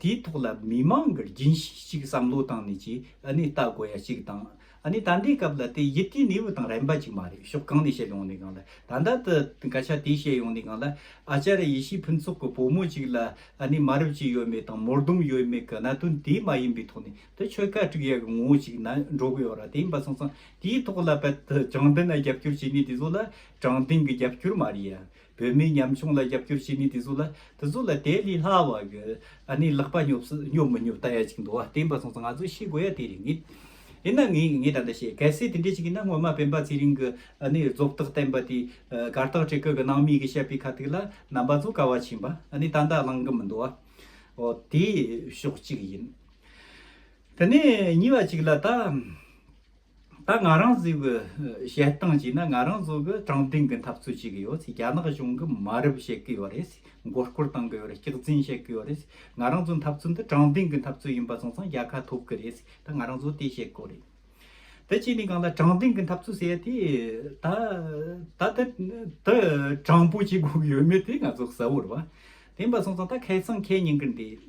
དེའི་ཐོག་ལ་མི་མང་གི་རྒྱུན་ཞིག་བསམ་བློ་བཏང་ནས་ཀྱི་བལྟ་དགོས་ཡ་གཅིག་དང། ད་ལྟའི་སྐབས་ལ་དེ་ཡིད་ཀྱི་ནུས་པ་དང་རན་པ་ཅིག་མ་རེད་ཤོག་གང་ནས་བཤད་ཡོང་ནས་གང་ལ་ད་ལྟ་དུ་སྐད་ཆ་དེ་བཤད་ཡོང་ནས་གང་ལ་ཨ་ཅར་ཡེ་ཤེས་ཕུན་ཚོགས་ཀྱི་བུ་མོ་ཅིག་ལ་མ་རབས་ཅི་ཡོད་མེད་དང་མོར་དུམ་ཡོད་མེད་ཀྱི་གནད་དོན་དེ་མ་ཡིན་པའི་ཐོག་ནས་དེ་ཆོལ་ཁ་དཀྲུགས་ཡ་གི་ངོ་བོ་ཅིག་ན་འགྲོ་གི་ཡོད་ར་དེ་ཡིན་པ་སོང་ཙང་དེའི་ཐོག་ལ་བལྟ་དྲང་བདེན་ན་རྒྱབ་སྐྱོར་བྱེད་ནུས་དེ་ཚོ་ལ་དྲང་བདེན་གྱི་རྒྱབ་སྐྱོར་མ་རེད་ཡ། བོད་མིའི་ཉམ་ཆུང་ལ་རྒྱབ་སྐྱོར་བྱེད་ནུས་དེ་ཚོ་ལ་དེ་ཚོ་ལ་དེ་ལས་སླ་བ་གི་ནས་ལག་པ་ཉོབ་སུ་ཉོབ་མི་ཉོབ་ལྟ་ཡ་ཅིག་འདུག་བ་བསྟན་པ་སོང་ཙང་ང་ཚོ་ཤེས་དགོས་ཡ་དེ་རེད་ངེས། ཡིན་ན་ངས་ངས་ད་ལྟ་བཤད་གལ་སྲིད་དེ་འདྲས་ཅིག་ཡིན་ན་སྔོན་མ་བན་པ་ཚེ་རིང་གི་ནས་རྫོབ་རྟགས་བསྟན་པ་དེ་གར་རྟགས་བཀྲི་ཁུལ་གི་ནང་མི་གི་བཤད་པའི་ཁ་ཐིག་ལ་རྣམ་པ་ཚོ་དཀའ་བ་ཆེན་པ་ནས་ད་ལྟ་བླང་གི་མི་འདུག་བ་འོ་དེ་ཕྱོགས་གཅིག་ཡིན། དེ་ནས་གཉིས་པ་ཅིག་ལ་ད། ད་ང་རང་གཟིགས་པའི་བཤད་སྟངས་ཀྱིས་ན་ང་རང་གཟོད་པའི་དྲང་བདེན་གྱི་འཐབ་རྩོད་བྱེད་གི་ཡོད་རྒྱ་ནག་གཞུང་གི་མ་རབས་བཤད་གི་ཡོད་རེད་མགོ་སྐོར་བཏང་གི་ཡོད་རེད་སྐྱག་རྫུན་བཤད་གི་ཡོད་རེད་ང་རང་ཚོའི་འཐབ་རྩོད་འདི་དྲང་བདེན་གྱི་འཐབ་རྩོད་ཡིན་པ་གསུངས་ཙང་རྒྱལ་ཁ་ཐོབ་གི་རེད་ད་ང་རང་གཟོད་དེ་བཤད་དགོས་རེད། དེ་བྱས་ནས་གང་ལ་དྲང་བདེན་གྱི་འཐབ་རྩོད་ཟེར་དེ་ད་ད་དེ་དེ་དྲང་པོ་བྱེད་དགོས་ཀྱི་ཡོད་མེད་དེ་ང་ཚོ་གསལ་བོར་བ་དེ་ཡིན་པ་གསུངས་ཙང་ད་ཁེ་སང་ཁེ་ཉིན་གྱི་འདི།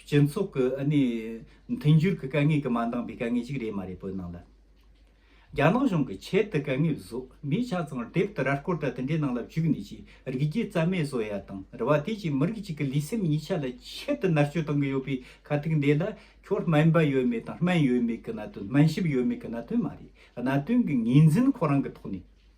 སྤྱི་ཚོགས་ཀྱི་ཨ་ནི་མཐུན་འགྱུར་གྱི་དཀའ་ངལ་གྱི་མ་འདང་པའི་དཀའ་ངལ་ཞིག་རེད་མ་རེད་བོད་ནང་ལ། རྒྱ་ནག་གཞུང་གི་ཆེད་དུ་དཀའ་ངལ་བཟོས་མི་ཆ་ཚང་དེབ་ཏི་ར་སྐོར་དང་དེ་འདྲའི་ནང་ལ་བཅུག་ནས་ཀྱི་རིགས་རྒྱུད་རྩ་མེད་བཟོ་ཡ་དང་རེ་བ་དེ་ཀྱི་མི་རིགས་གཅིག་གི་ལུས་སེམས་གཉིས་ཆ་ལ་ཆེད་དུ་མནར་གཅོད་གཏང་གི་ཡོད་པའི་ཁ་ཐུག་འདི་ལ་ཁྱོད་སྨན་པ་ཡོད་མེད་དང་སྨན་ཡོད་མེད་ཀྱི་གནད་དོན་སྨན་ཞིབ་ཡོད་མེད་ཀྱི་གནད་དོན་མ་རེད་གནད་དོན་གྱི་ངོས་འཛིན་ཁོ་རང་གི་ཐོག་ནས།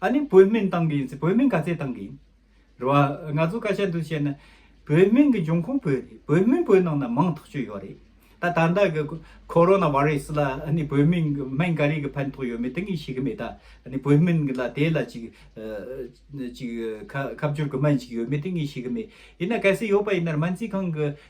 ཨ་ནི་བོད་སྨན་ཏང་གི་ཡིན་ཚེ་བོད་སྨན་ག་ཚད་ཏང་གི་ཡིན། རེད་བ། ང་ཚོ་སྐད་ཆ་འདི་བཤད་ན། བོད་སྨན་གི་འབྱུང་ཁུངས་བོད་རེད། བོད་སྨན་བོད་ནང་ན་མང་ཐག་ཆོད་ཡོད་རེད། ད་ད་ལྟ་གི་ཁོ་རོ་ན་བྷ་རེ་སི་ལ་ཨ་ནི་བོད་སྨན་གི་སྨན་ག་རེ་གི་ཕན་ཐོག་ཡོད་མེད་དེ་གཉིས་ཤེས་ཀི་མེད་ད། ཨ་ནི་བོད་སྨན་གི་ལ་དེ་ལ་ཅིག་ཅིག་ཁ་ཁ་བསྒྱུར་གི་སྨན་ཞིག་ཡོད་མེད་དེ་གཉིས་ཤེས་ཀི་མེད། ཡིན་ན་གལ་སྲིད་ཡོད་པ་ཡིན་ན་སྨན་རྩིས་ཁང་གི་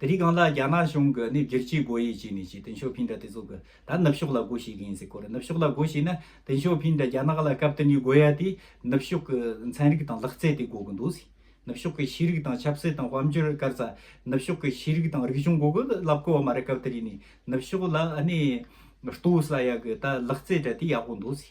དེ་རིགས་གང་ལ་རྒྱ་ནག་གཞུང་གི་ནི་བསྒྱུར་བཅོས་སྒོ་དབྱེ་བྱས་ནས་ཀྱི་ཏིན་ཞོ་ཕིན་དྲ་དེ་ཚོ་གི་ད་ནུབ་ཕྱོགས་ལ་སྒོ་ཕྱེ་གི་ཡིན་ཟེར་སྐོར་ནུབ་ཕྱོགས་ལ་སྒོ་ཕྱེ་ན་ཏིན་ཞོ་ཕིན་དྲ་རྒྱ་ནག་ལ་སྐབས་དེ་ནས་སྒོ་དབྱེ་དེ་ནུབ་ཕྱོགས་གི་ཚན་རིག་དང་ལག་རྩལ་དེ་སྒོ་གི་འདུག་ཟེར་ནུབ་ཕྱོགས་གི་ཤེས་རིག་དང་ཆབ་སྲིད་དང་དཔལ་འབྱོར་སྐར་ཚ་ནུབ་ཕྱོགས་གི་ཤེས་རིག་དང་རིག་གཞུང་སྒོ་གི་ལབ་དགོས་བ་མ་རེད་སྐབས་དེ་རིགས་ནི་ནུབ་ཕྱོགས་ལ་ནི་ཏུའུ་ས་ཡ་གི་ད་ལག་རྩལ་དྲ་དེ་ཡག་པོ་འདུག་ཟེར།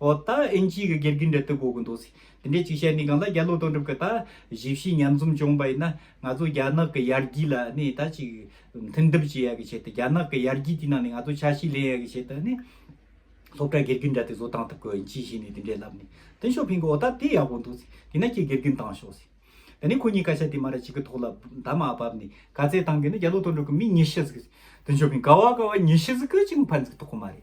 ཨོ་ད་ཨིན་ཅིའི་གི་སྒེར་གི་འབྲེལ་ལྟོས་གོ་གི་འདུག་སི་དེ་འདྲའི་ཅིག་བཤད་ནི་གང་ལ་རྒྱ་ལོ་དོ་འགྲུབ་གི་ད་གཞི་བྱིས་མཉམ་འཛོམས་བྱུང་བ་ཡིན་ན་ང་ཚོ་རྒྱ་ནག་གི་ཡར་རྒྱས་ལ་ནི་ད་ཅིག་མཐུན་བསྡུབ་བྱེད་ཡ་གི་ཆེད་དུ་རྒྱ་ནག་གི་ཡར་རྒྱས་དེ་ནང་ནི་ང་ཚོ་ཆ་ཤས་ལེན་ཡ་གི་ཆེད་དུ་ནི་སློབ་གྲྭ་སྒེར་གི་འདྲ་དེ་བཟོ་བཏང་ཐུབ་གི་ཨིན་ཅི་བྱས་ནི་དེ་འདྲའི་ལབ་ནི་ཏིན་ཞོ་ཕིང་གི་ཨོ་ད་དེ་ཡག་པོ་འདུག་སི་དེ་ན་ཁྱེད་སྒེར་གི་བཏང་ཤོག་སི་དེ་ནི་ཁོ་གཉིས་སྐད་ཆ་དེ་མ་རེད་ཅིག་གི་ཐོག་ལ་ད་མ་བབ་ནི་ག་ཚད་བཏང་གི་ནི་རྒྱ་ལོ་དོ་འགྲུབ་གི་མི་ཉི་ཤུ་ཟིག་གི་སི་ཏིན་ཞོ་ཕིང་ག་བ་ག་བ་ཉི་ཤུ་ཟིག་གི་ཅིག་མ་ཕན་ཟིག་གི་ཐོག་མ་རེད་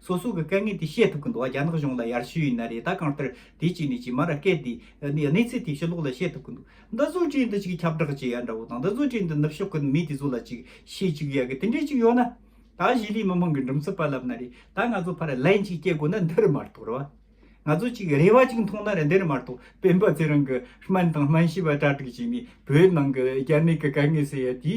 སོ་སོ་གི་དཀའ་ངལ་དེ་ཤེས་ཐུབ་གི་འདུག་རྒྱ་ནག་གཞུང་ལ་ཡར་ཞུ་ཡིན་ན་རེད་ད་གང་ལྟར་དེ་ཅིག་ནས་ཅིག་མར་སྐད་དེ། གནས་ཚུལ་དེ་ཕྱི་ལོགས་ལ་བཤད་ཐུབ་གི་འདུག་འདི་བཟོ་གྲྭའི་འདི་ཅིག་ཁྱབ་བསྒྲགས་བྱེད་ཡ་འདྲ་བོ་དང་འདི་བཟོ་གྲྭའི་འདི་ནུབ་ཕྱོགས་གི་མི་དེ་ཚོ་ལ་ཅིག་བཤད་ཅིག་ཡ་གི་དེ་འདྲས་ཅིག་ཡོད་ན། ད་གཞིས་ལུས་མི་དམངས་གི་འགྲུམ་ཚུལ་པར་ལབ་ན་རེད་ད་ང་ཚོ་ཕར་ལན་ཅིག་སྐྱེལ་དགོས་ན་འདི་རུ་མ་གཏོགས་རེད་བ། ང་ཚོ་ཅིག་རེ་བ་ཅིག་མཐོང་ན་རེད་འདི་རུ་མ་གཏོགས་སྤེན་པ་ཚེ་རིང་གི་སྨན་དང་སྨན་ཤེས་པ་གྲ་སྒྲིག་བྱས་ནས་བོད་ནང་གི་རྒྱ་ནད་ཀྱི་དཀའ་ངལ་སེལ་ཡ་དེ།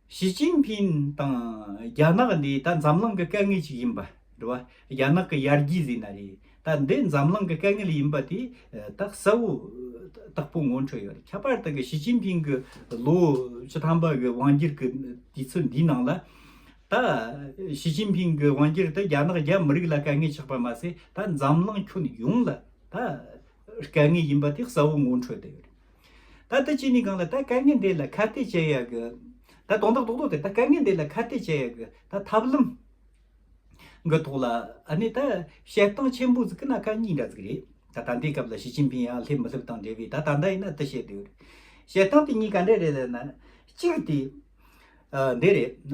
ཞི་ཅིན་ཕིན་དང་རྒྱ་ནག་འདི་ད་འཛམ་གླིང་གི་སྐད་ངེས་ཅིག་ཡིན་པ་རེད་བ། རྒྱ་ནག་གི་ཡར་རྒྱས་ཟེར་ན་རེད་ད་འདི་འཛམ་གླིང་གི་སྐད་ངེལ་ཡིན་པ་དེ་ད་གསལ་བོ་དག་པོ་ངོ་འཕྲོད་ཡོད་རེད་ཁྱད་པར་དག་གི་ཞི་ཅིན་ཕིན་གི་ལོ་བཅུ་ཐམ་པ་གི་དབང་སྒྱུར་གི་དུས་ཚོད་འདིའི་ནང་ལ་ད་ཞི་ཅིན་ཕིན་གི་དབང་སྒྱུར་དེ་རྒྱ་ནག་རྒྱ་མི་རིགས་ལ་སྐད་ངེས་ཆགས་པ་མ་ཟད་ད་འཛམ་གླིང་ཁྱོན་ཡོངས་ལ་ད་སྐད་ངེས་ཡིན་པ་དེ་གསལ་བོ་ངོ་འཕྲོད་དེ་ཡོད་རེད། ད་ལྟ་ཅི་ནས་གང་ལ་ད་དཀའ་ངལ་འདི་ལ་ཁ་གཏད་འཇལ་ཡག་གི། ད་དོན་དག་ཏོག་ཏོག་དེ་ད་དཀའ་ངལ་འདི་ལ་ཁ་གཏད་འཇལ་ཡག་གི་ད་ཐབས་ལམ། གི་ཐོག་ལ་ཨ་ནི་ད་བཤད་སྟངས་ཆེན་པོ་ཟིག་གི་ན་ཁ་གཉིས་འདྲ་ཟིག་རེད་ད་ད་འདའི་སྐབས་ལ་ཞི་ཅིན་ཕིན་ཡང་སླེབས་མི་སླེབས་དང་འབྲེལ་བའི་ད་ད་འདའ་ཡིན་ན་དི་བཤད་དུས། བཤད་སྟངས་དེ་གཉིས་ག་འདྲ་རེད་ལ་ན། གཅིག་དེ། འདི་རེད།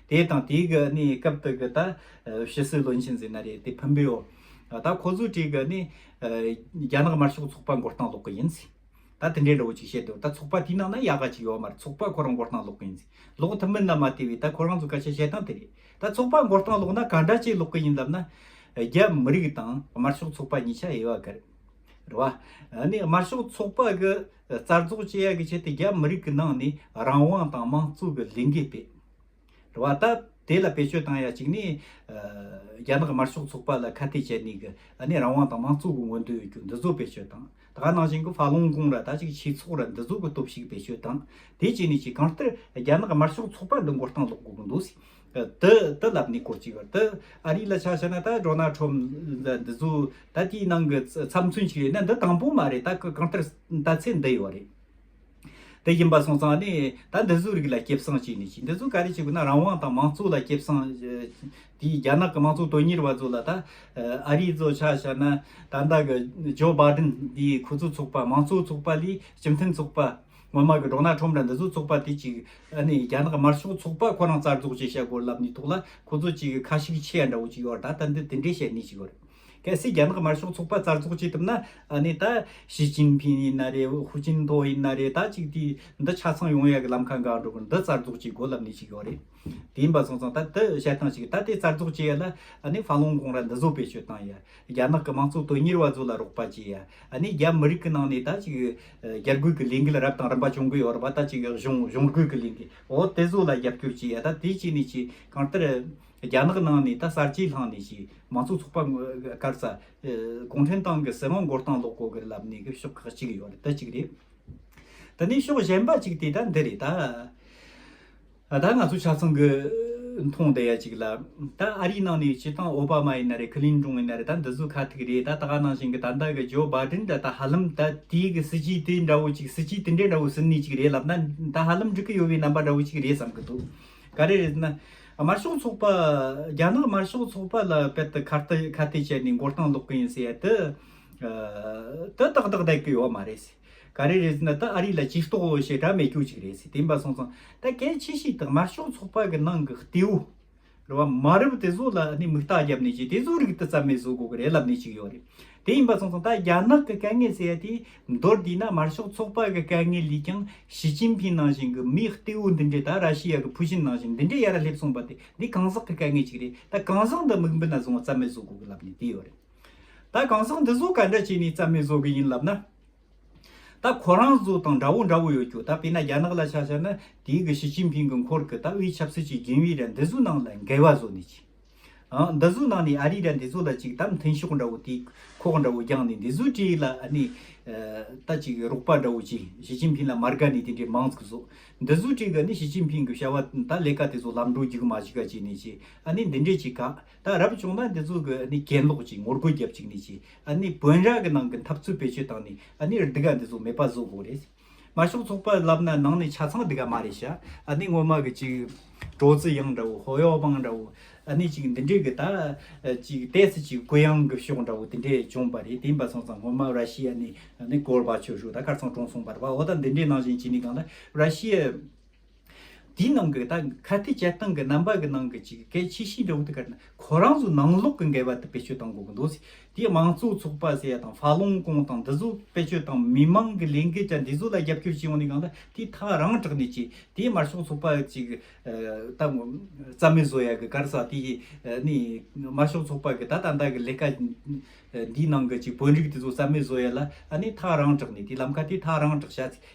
དེ་དང་དེའི་གི་ནི་སྐབས་དེ་གི་ད་ཕྱི་སྲིད་བློན་ཆེན་ཟེར་ན་རེད་དེ་ཕུན་པེའོ་ད་ཁོ་ཚོའི་གྲས་གི་ནི་རྒྱ་ནག་དམར་ཤོག་ཚོགས་པ་མགོ་རྟིང་ལོག་གི་ཡིན་ཟེར་ད་དེ་འདྲའི་ལོ་ཅིག་བཤད་དུས་ད་ཚོགས་པ་དེའི་ནང་ན་ཡག་ག་ཅིག་ཡོད་མ་རེད་ཚོགས་པ་ཁོ་རང་མགོ་རྟིང་ལོག་གི་ཡིན་ཟེར་ལོག་ཐུབ་མིན་ན་མ་ལྟོས་བས་ད་ཁོ་རང་ཚོའི་སྐད་ཆ་བཤད་སྟངས་དེ་རེད་ད་ཚོགས་པ་མགོ་རྟིང་ལོག་ན་ག་འདྲ་ཅིག་ལོག་གི་ཡིན་ལབ་ན་རྒྱ་མི་རིགས་དང་དམར་ཤོག་ཚོགས་པ་གཉིས་ཆ་དབྱེ་བ་ག་རེད་རེད་བ། ནི་དམར་ཤོག་ཚོགས་པ་གི་རྩ་རྫོགས་བཅས་ཡག་གི་ཆེད་དུ་རྒྱ་མི་རིགས་གི་ནང་ནས་རང་དབང་དང་དམངས་གཙོ་གི་ལས་འགུལ་སྤེལ། རེད། བ་ད། དེ་ལ་བེད་སྤྱོད་བཏང་ཡ་ཅིག་ནི། རྒྱ་ནག་དམར་ཤོག་ཚོགས་པ་ལ་ཁ་གཏད་བྱས་ནས་ཀི། ནི་རང་དབང་དང་མང་གཙོ་གི་མངོན་འདོད་ཡོད་རྒྱུ་འདི་ཚོ་བེད་སྤྱོད་དང། ད་ག་ནང་བཞིན་གི་ཧྥ་ལུང་གུང་ར་ད་ཅིག་ཆིག་ཚོགས་ར་འདི་ཚོ་གི་སྟོབས་ཤིག་བེད་སྤྱོད་དང། དེ་བྱས་ནས་ཅིག་གང་ལྟར་རྒྱ་ནག་དམར་ཤོག་ཚོགས་པ་འདི་མགོ་རྟིང་སློག་དགོས་གི་འདུག་སི། ཏི། ཏི་ལབ་ནི་སྐོར་ཅིག་ཡོད་རེད། ཨ་རི་ལ་ཆ་བྱས་ན་ད་སྒྲོ་ནལ་ཁྲོམ་ལ་འདི་ཚོ་ད་དེའི་ནང་གི་ཚབ་མཚོན་ཅིག་རེད་ན་འདི་དང་པོ་མ་རེད་ད་གི་གང་ལྟར་ད་ཚེ་འདི་ཡོད་རེད། དེ་ཡིན་པ་སོང་ཙང་ནི་ད་འདི་ཚོའི་རིགས་ལ་སྐྱེབས་སྲང་བྱེད་ནི་ཅི་འདི་ཚོ་ག་རེ་བྱེད་དགོས་ན་རང་དབང་དང་མང་གཙོ་ལ་སྐྱེབས་སྲང་དེ་རྒྱ་ནག་གི་མང་གཙོ་དོན་གཉེར་བ་ཚོ་ལ་ད་ཨ་རིས་ཚོ་ཆ་བཞག་ན་ད་ལྟ་གི་ཇོ་བྷ་དིན་དེ་ཁོ་ཚོ་ཚོགས་པ་མང་གཙོ་ཚོགས་པ་ལས་སྤྱི་མཐུན་ཚོགས་པ་ངོ་མ་གི་འགྲོ་ན་ཁྲོམ་ར་འདི་ཚོ་ཚོགས་པ་དེ་ཅིག་ཨ་ནི་རྒྱ་ནག་དམར་ཕྱོགས་ཚོགས་པ་ཁོ་རང་རྩར་རྫོགས་བྱེད་བྱ་དགོས་ལབ་ནི་ཐོག་ལ་ཁོ་ཚོ་ཅིག་ཁ་ཤིག་ཆེ་ཡ་འདྲ་བོ་ཅིག་ཡོད་ད་ད་འདི་དེ་འདྲས་བྱེད་ནི་ཅིག་ཡོད། གལ་སྲིད་རྒྱ་ནག་དམར་ཤོག་ཚོགས་པ་རྩར་རྫོགས་བྱེད་ཐུབ་ན་ནི་ད་ཞི་ཅིན་ཕིན་ཡིན་ན་རེད་ཧུ་ཅིན་ཐོ་ཡིན་ན་རེད་ད་ཅིག་དེ་འདི་ཆ་ཚང་ཡོང་ཡ་གི་ལམ་ཁ་འགའ་འགྲོ་གི་འདི་རྩར་རྫོགས་བྱེད་དགོས་ལབ་ནི་ཞིག་ཡོད་རེད་དེ་ཡིན་པ་སོང་ཙང་ད་འདི་བཤད་སྟངས་ཞིག་ད་དེ་རྩར་རྫོགས་བྱེད་ཡ་ལ་ནི་ཧྥ་ལོང་གོང་ར་འདི་བཟོ་བེད་སྤྱོད་བཏང་ཡ་རྒྱ་ནག་གི་དམངས་གཙོ་དོན་གཉེར་བ་ཚོ་ལ་རོགས་པ་བྱེད་ཡ་ནི་རྒྱ་མི་རིགས་གི་ནང་ནས་ད་ཅིག་རྒྱ་རྒོལ་གི་ལས་འགུལ་རབ་དང་རིམ་པ་བྱུང་གི་ཡོད་རེད་པ་ད་ཅིག་གཞུང་གཞུང་རྒོལ་གི་ལས་འགུལ་འོ་དེ་ཚོ་ལ་རྒྱབ་སྐྱོར་བྱེད་ཡ་ད་དེ་བྱེད་ནི་ཅིག་གང་ལྟར་རྒྱ་ནག་ནང་ནས་ད་གསར་བརྗེའི་ལྷང་ནས་ཞིག་མང་གཙོ་ཚོགས་པ་དཀར་ས། གུང་ཁྲན་ཏང་གི་སྲིད་དབང་མགོ་རྟིང་སློག་གོ་གི་ལབ་ནས་གི་ཕྱོགས་ཁག་ཅིག་ཡོད་རེད་ད་ཅིག་རེད། ད་ནས་ཕྱོགས་གཞན་པ་ཅིག་དེ་ད་འདི་རེད་ད། ད་ང་ཚོ་ཆ་ཚང་གི་མཐོང་བསྡད་ཡ་ཅིག་ལ་ད་ཨ་རིའི་ནང་ནས་སྤྱི་དང་ཨོ་བྷ་མ་ཡིན་ན་རེད་ཁི་ལིན་ཀྲུང་ཡིན་ན་རེད་ད་འདི་ཟུ་ཁ་ཐིག་རེད་ད་ད་ག་ནང་བཞིན་གི་ད་ད་གི་ཇོ་བྷ་དྲིན་ད་ད་ཧ་ལམ་ད་དེའི་གི་སྲིད་ཇུས་དེ་འདྲ་བོ་ཅིག་སྲིད་ཇུས་དེ་འདྲའི་འདྲ་བོ་ཟིན་ནས་ཅིག་རེད་ལབ་ན་ད་ཧ་ལམ་འགྲིག་གི་ཡོད་པའི་རྣམ་པ་འདྲ་བོ་ཅིག་རེད་བསམ་གི་འདུག་ག་རེ་རེད་ཟེར་ན། དམར་ཤོག་ཚོགས་པ། རྒྱ་ནག་དམར་ཤོག་ཚོགས་པ་ལ་དཔེར་དུ་ཁ་གཏད་བྱས་ནས་མགོ་རྟིང་སློག་གི་ཡིན་ཟེར་དུས། དུ་ཏག་ཏག་བསྡད་ཀྱི་ཡོད་མ་རེད། ག་རེ་རེད་ཟེར་ན་དུ་ཨ་རི་ལ་ཇུས་གཏོགས་བྱེད་གྲབས་མེད་རྒྱུ་གཅིག་རེད། དེ་འབའ་སོང་ཙང་ད་གལ་ཆེ་ཤོས་དུ་དམར་ཤོག་ཚོགས་པ་གི་ནང་གི་ལྟེ་བོ། རེད་བ། མ་རབས་དེ་ཚོ་ལ་ནི་མིག་རྟགས་བརྒྱབ་ནས་ཀྱི་དེ་ཚོའི་རིགས་དུ་རྩ་མེད་བཟོ་དགོས་ཀྱི་རེད་ལབ་ནས་ཅིག་ཡོད་རེད། དེ་ཡིན་པ་སོང་སོང་ད་རྒྱ་ནག་གི་དཀའ་ངལ་ཟེར་ཡ་དེ་མདོར་བསྡུས་ན་དམར་ཤོག་ཚོགས་པ་གི་དཀའ་ངལ་ལས་ཀྱང་ཞི་ཅིན་ཕིན་ནང་བཞིན་གྱི་མིའི་གཏི་བོ་འདི་འདྲས་ད་ར་ཤི་ཡ་གི་ཕུ་ཤིན་ནང་བཞིན་འདི་འདྲས་ཡར་སླེབས་སོང་པ་དེ་འདི་གང་ཟག་གི་དཀའ་ངལ་ཅིག་རེད་ད་གང་ཟག་འདི་མིག་འབུ་ན་བཟུང་བ་རྩ་མེད་བཟོ་དགོས་གི་ལབ་ནས་དེ་ཡོད་རེད་ད་གང་ཟག་འདི་བཟོ་ག་འདྲ་བྱས་ནས་རྩ་མེད་བཟོ་གི་ཡིན་ལབ་ན། ད་ཁོ་རང་བཟོ་དང་འདྲ་བོ་འདྲ་བོ་ཡོད་ཀྱོད་ད་དཔེ་ན་རྒྱ་ནག་ལ་ཆ་བཞག་ན་དེའི་གི་ཞི་ཅིན་ཕིན་གི་འཁོར་གི་ད་དབུས་ཆབ་སྲིད་ཀྱི་རྒྱུན་ཨི་ར་འདི་བཟོ་ནང་ལ་འགལ་བ་བཟོ་ནས་ཅིག། ཨང། འདི་གཟུགས་ནང་ནས་ཨ་རིའི་དགྲ་འདི་ཚོ་ལ་ཅིག་དམ་འཐེན་ཤོག་འདྲ་བོ་དེ་ཁོག་འདྲ་བོ་རྒྱང་ནས་འདི་ཚོའི་གྲས་ལ་ཨ་ནི། ད་ཅིག་རོགས་པ་འདྲ་བོ་ཅིག་ཞི་ཅིན་ཕིན་ལ་མར་དགའ་ནས་དེ་འདྲའི་མང་ཚིག་ཟོ། འདི་ཚོའི་གྲས་ཀྱི་ནི་ཞི་ཅིན་ཕིན་གྱི་བྱ་བ་ད་ལས་ཀ་དེ་ཚོ་ལམ་འགྲོ་རྒྱུ་གི་མ་གཞི་ཀ་ཅིག་ནས་ཅིག་ཨ་ནི་འདི་འདྲས་ཅིག་ག་ད་རབ་བྱུང་ན་འདི་ཚོ་གི་ཨ་ནི་གྱེན་ལོག་ཅིག་ངོ་རྒོལ་རྒྱབ་ཅིག་ནས་ཅིག་ཨ་ནི་བོན་རྭ་གི་ནང་གི་འཐབ་རྩོད་བེད་སྤྱོད་བཏང་ནས་ཨ་ནི་རྡི་ག་འདི་ཚོ་མེད་པ་བཟོ་དགོས་རེད། ང་ཤོག་ཚོགས་པ་ལབ་ན་ནང་ནས་ཆ་ཚང་འདི་ག་མ་རེད་ཤ་ཨ་ནི་ངོ་མ་གི་ཅིག་གྲོ་རྫི་ཡང་འདྲ་བོ་ཧོ་ཡོག་པང་འདྲ་བོ་ཨ་ནི་ཅིག་འདི་འདྲས་གི་ད་ཅིག་ཏས་སི་ཅིག་གུ་ཡང་གི་ཤོག་འདྲ་བོ་དེ་འདྲས་བྱུང་བ་རེད་དེ་འབའ་སོང་ཙང་ངོ་མ་ར་ཤི་ཡ་ནི་ནི་གོར་བ་ཆོས་ཞུགས་ད་ཁར་ཚང་གྲོང་སོང་བར་བ་ཨོ་ད་འདི་འདྲས་ནང་བཞིན་ཅི་ནི་གང་ད་ར་ཤི་ཡ། དེའི་ནང་གི་ད་ཁ་གཏད་སྤྱད་སྟངས་ཀྱི་རྣམ་པ་གི་ནང་གི་གཅིག་གི་གལ་ཆེ་ཤོས་འཇོག་དུས་ཀར་ན་ཁོ་རང་ཚོའི་ནང་ལོག་གི་འགལ་བ་དེ་བེད་སྤྱོད་གཏང་དགོས་ཀྱི་འདུག་དེ་མང་གཙོ་ཚོགས་པ་ཟེར་ཡ་དང་ཧྥ་ལུང་ཀོང་དང་འདི་ཚོ་བེད་སྤྱོད་དང་མི་མང་གི་ལས་འགུལ་དང་འདི་ཚོ་ལ་རྒྱབ་སྐྱོར་བྱེད་ཡོང་ནི་གང་ལྟ་དེ་མཐའ་རང་དྲག་ནས་བྱས་དེ་མར་ཕྱོགས་ཚོགས་པ་གཅིག་ད་རྩ་མེད་བཟོ་ཡ་གི་གར་ས་དེ་ནི་དམར་ཤོག་ཚོགས་པ་གི་ད་ད་ལྟ་གི་ལས་ཀ་འདིའི་ནང་གི་གཅིག་བོད་རིགས་དེ་ཚོ་རྩ་མེད་བཟོ་ཡ་ལ་ཨ་ནི་མཐའ་རང་དྲག་ནས་དེ་ལམ་ཁ་དེ་མཐའ་རང་དྲག་བྱ་ཚིག་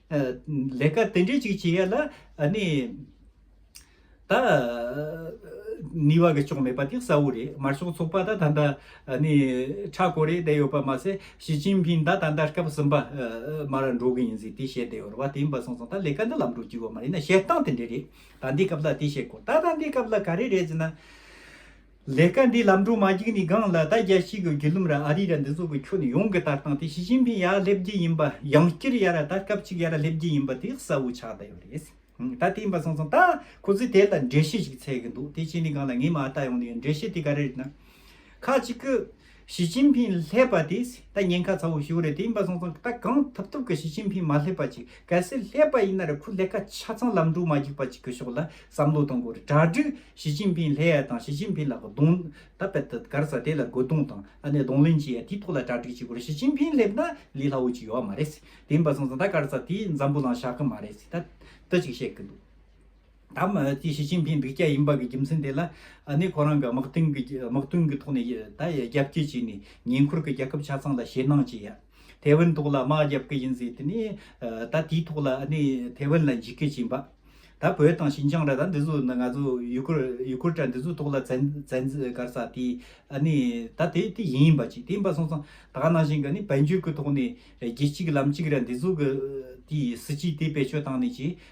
ལས་ཀ་དེ་འདྲས་ཅིག་བྱེད་ཡ་ལ་ནི། ད། ནུས་བ་གི་ཅོང་མེད་པ་དེ་གསལ་བོ་རེད་དམར་ཤོག་ཚོགས་པ་ད་ད་ལྟ། ནི། ཁྲ་ཁོ་རེ་བསྡད་ཡོད་པ་མ་ཟད་ཞི་ཅིན་ཕིན་ད་ད་ལྟ་སྐབས་གསུམ་པ། མ་ར་འགྲོ་གི་ཡིན་ཟིག་དེ་བཤད་བསྡད་ཡོད་རེད་བ་དེ་ཡིན་པ་སོང་སོང་ད་ལས་ཀ་འདི་ལམ་འགྲོ་རྒྱུ་ཡོད་མ་རེད་ན་བཤད་སྟངས་དེ་འདྲས་རེད་ད་འདི་སྐབས་ལ་དེ་བཤད་དགོས་ད་ད་འདི་སྐབས་ལ་ག་རེ་རེད་ཟེར་ན། ལས་ཀ་འདི་ལམ་འགྲོ་མ་བགྱིག་ནི་སྒང་ལ་ད་རྒྱ་ཤིག་གི་བརྒྱུད་ལུམ་ར་ཨ་རི་ར་འདི་ཚོ་གི་ཁྱོ་ནི་ཡོང་གི་ལྟར་སྟངས་དེ་ཞི་ཅིན་ཕིན་ཡ་སླེབས་རྒྱི་ཡིན་པ་ཡང་བསྐྱིར་ཡ་ར་ད་སྐབས་གཅིག་ཡ་ར་སླེབས་རྒྱི་ཡིན་པ་དེ་གསལ་བོ་ཆགས་ད་ཡོད་རེད་ད་དེ་ཡིན་པ་སོང་སོང་ད་ཁོ་ཚོས་དེ་ལ་འགྲེལ་བཤད་ཞིག་འཚལ་གི་འདུག་དེ་བྱས་ནི་སྒང་ལ་ངའི་མ་ལྟ་ཡོང་ནི་ཡོད་འགྲེལ་བཤད་དེ་ག་རེ་རེད་ན་ཁ་ཅིག་གི། ཞི་ཅིན་ཕིན་བསླེབས་པ་དེ་ད་ཉེན་ཁ་ཚ་བོ་ཞིག་རེད་དེ་ཡིན་པ་སོང་ཙང་ད་གང་ཐུབ་ཐུབ་གི་ཞི་ཅིན་ཕིན་མ་བསླེབས་པ་ཅིག་གལ་སྲིད་བསླེབས་པ་ཡིན་ན་རེ་ཁོ་ལས་ཀ་ཆ་ཚང་ལམ་འགྲོ་མ་འཇུག་པ་ཅིག་གི་ཕྱོགས་ལ་བསམ་བློ་གཏོང་དགོས་རེད་གྲ་སྒྲིག་ཞི་ཅིན་ཕིན་བསླེ་ཡ་དང་ཞི་ཅིན་ཕིན་ལ་གདོང་ད་པད་ད་གར་ས་དེ་ལ་རྒོལ་རྡུང་དང་ཨ་ནེ་གདོང་ལེན་བྱེད་ཡ་དེའི་ཐོག་ལ་གྲ་སྒྲིག་བྱེད་དགོས་རེད་ཞི་ཅིན་ཕིན་བསླེབས་ན་ལས་སླ་བོ་ཅིག་ཡོད་བ་མ་རེད་དེ་ཡིན་པ་སོང་ཙང་ད་གར་ས་དེ་འཛམ་བུ་ལའང་བཞག་གི་མ་རེད་ད་ད་ཅིག་བཤད་གི་འདུག། ད་ལྟའི་ཞི་ཅིན་ཕིན་འབིག་སྐྱག་ཡིན་པ་གི་རྒྱུ་མཚན་དེ་ལ་ཨ་ནི་ཁོ་རང་གི་དམག་དོན་གི་དམག་དོན་གི་ཐོག་ནས་ད་རྒྱ་བསྐྱེད་བྱས་ནས་ཉེ་འཁོར་གི་རྒྱལ་ཁབ་ཆ་ཚང་ལ་ཞེད་སྣང་བྱེད་ཡ། ཐའེ་ཝན་ཐོག་ལ་དམག་རྒྱབ་ཀི་ཡིན་ཟེར་དེ་ནས་ད་དེའི་ཐོག་ལ་ཨ་ནི་ཐའེ་ཝན་ལ་འཇིགས་སྐུལ་བྱེད་འབའ། ད་བོད་དང་ཞིན་ཅང་ར་ད་འདི་ཚོ་ནི་ང་ཚོ་ཡུ་གུར་ཡུ་གུར་དྲ་འདི་ཚོའི་ཐོག་ལ་བཙན་བཙན་བཀར་ས་དེ་ཨ་ནི་ད་དེ་དེ་ཡིན་པ་ཅིག་དེ་ཡིན་པ་སོང་ཙང་ད་ནང་བཞིན་གི་ནི་བལ་འབྱོར་གི་ཐོག་ནས་རྒྱལ་གཅིག་ལམ་གཅིག་ར་འདི་ཚོ་གི་དེའི་སྲིད་ཇུས་དེ་བེད་སྤྱོད་བཏང་ནས་ཀྱི་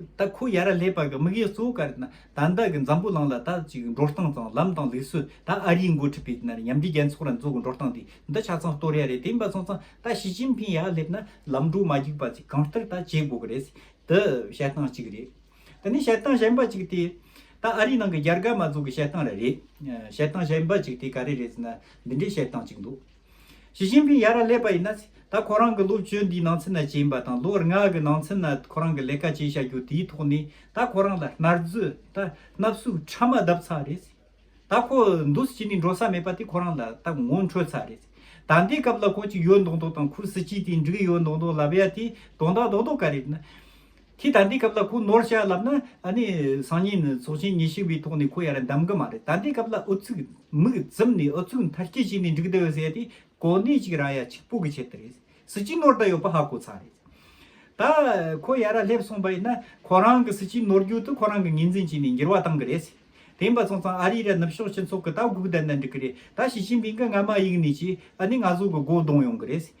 ད་ཁོས་ཡ་ར་ལྷས་བར་གྱི་དམིགས་ཡུལ་གཙོ་བོ་ག་རེ་ད་ནི་ད་གི་འཛམ་བུ་གླིང་ལ་ད་ཅིག་འགྲོ་སྟངས་དང་ལམ་དང་ལུགས་སྲོལ་ད་ཨ་རིའི་མགོ་ཁྲིད་པའི་ཉམས་ཀྱི་རྒྱལ་ཚོགས་ར་མཛོ་གི་འགྲོ་སྟངས་དེ་འདི་ཆ་ཚང་སྟོར་ཡ་རེད་དེ་འབའ་ཚང་ཚང་ད་ཞི་ཅིན་ཕིན་ཡར་སླེབས་ན་ལམ་འགྲོ་མ་རྒྱུག་པ་ཅིག་གང་ལྟར་ད་བྱེད་དགོ་གི་རེད་ཟེར་དུ་བཤད་སྟངས་གཅིག་རེད་དེ་ནས་བཤད་སྟངས་གཞན་པ་ཅིག་དེ་ད་ཨ་རིའི་ནང་གི་རྒྱ་དགའ་མ་མཛོ་གི་བཤད་སྟངས་ར་རེད་བཤད་སྟངས་གཞན་པ་ཅིག་དེ་ག་རེ་རེད་ཟེར་ན་འདི་འདྲའི་བཤད་སྟངས་ཅིག་འདུག། ཞི་ཅིན་ཕིང་ཡར་ར་སླེབས་པ་ཡིན་ན། ད་ཁོ་རང་གི་ལོ་བཅུ་འདིའི་ནང་ཚུན་ན་བྱས་ཡིན་པ་དང་ལོ་ལྔ་གི་ནང་ཚུན་ན་ཁོ་རང་གི་ལས་ཀ་བྱས་བྱ་རྒྱུ་དེའི་ཐོག་ནས་ད་ཁོ་རང་ལ་ནར་རྫུས་ད་ནབ་སུག་ཕྲ་མ་བརྡབ་ཚར་རེད། ད་ཁོ་འདུ་སི་ཅི་ནས་འགྲོ་ས་མེད་པ་དེ་ཁོ་རང་ལ་ད་ངོ་འཕྲོད་ཚར་རེད། ད་འདའི་སྐབས་ལ་ཁོ་གཅིག་ཡོད་མདོག་མདོག་དང་ཁུ་སི་ཅི་དེ་འགྲིག་ཡོད་མདོག་མདོག་ལབ་ཡ་དེ་དོན་དག་རྡོག་རྡོག་ག་རེད། ཁྱེད་ད་ལྟའི་སྐབས་ལ་ཁོ་ནོར་བཤད་ལབ་ན་ཨ་ནི་སང་ཉིན་ཚོགས་ཆེན་ཉི་ཤུ་པའི་ཐོག་ནས་ཁོ་ཡར་འདམ་གི་མ་རེད་ད་ལྟའི་སྐབས་ལ་ཨུ་ཚུགས་མིག་བཙུམ་ནས་ཨུ་ཚུགས་མཐར་སྐྱེལ་བྱས་ནས་འགྲིག་འདི་ཟེར་ཏེ་གོ་གནས་ཅིག་རང་ཡ་ཆིག་པོ་གི་ཆེད་དུ་རེད་སྲིད་སྤྱི་ནོར་ད་ཡོད་པ་ཧ་གོ་ཚར་རེད་ད་ཁོ་ཡར་སླེབས་སོང་པ་ཡིན་ན་ཁོ་རང་གི་སྲིད་སྤྱི་ནོར་རྒྱུག་ཏུ་ཁོ་རང་གི་ངོས་འཛིན་བྱས་ནས་འགྱུར་བ་བཏང་གི་རེད་སྲིད་དེ་འབའ་ཚང་ཚང་ཨ་རིའི་ར་ནུབ་ཕྱོགས་སྤྱི་ཚོགས་ཀྱི་ད་སྒུག་བསྡད་ན་འགྲིག་གི་རེད་ད་ཞི་ཅིན་ཕིང་གི་རྔ་མ་གཡུག་ནས་ཀྱིས་ཨ་ནི་ང་ཚོ་གི་སྒོ་བརྡུང་ཡོང་གི་རེད་སྲིད་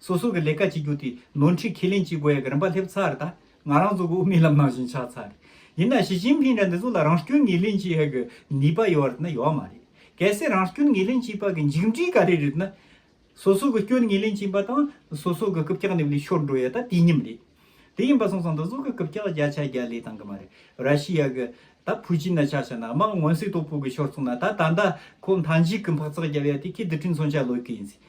སོ་སོ་གི་ལས་ཀ་བྱེད་རྒྱུ་དེ་ནོར་འཁྲིད་ཁས་ལེན་བྱེད་དགོས་ཡག་གི་རིན་པ་སླེབས་ཚར་ད། ང་རང་ཚོ་གི་དབུ་མའི་ལམ་ནང་བཞིན་ཆགས་ཚར། ཡིན་ན་ཞི་ཅིན་ཕིན་འདྲ་འདི་ཚོ་ལ་རང་སྐྱོན་ངེས་ལེན་བྱེད་ཡག་གི་ནུས་པ་ཡོད་རེད་ན་ཡོད་མ་རེད། གལ་སྲིད་རང་སྐྱོན་ངེས་ལེན་བྱེད་པ་གི་མཇུག་འབྲས་ག་རེ་རེད་ན། སོ་སོ་གི་སྐྱོན་ངེས་ལེན་བྱེད་པ་དང་སོ་སོ་གི་རྐུབ་ཀྱག་ནི་ལས་ཤོར་འགྲོ་ཡོད་ད་དུས་མཉམ་རེད། དེ་ཡིན་པ་སོང་ཙང་འདི་ཚོ་གི་རྐུབ་ཀྱག་བརྒྱ་ཆ་བརྒྱ་ལས་བཏང་གི་མ་རེད། ར་ཤི་ཡ་གི་ད་ཕུ་ཅིན་ན་ཆགས་ཆགས་ན་དམག་མངོན་གསལ་དོད་པོ་གི་ཤོར་སོང་ན་ད་ད་ད་ཁོ་མཐའ་མཇུག་གི་འཕག་འཚག་རྒྱབ་ཡ་དེ་ཁྱེད་དི་ཁྲིན་ཚོ་འཆའ་ལོས་ཀི་ཡིན་སྲིད།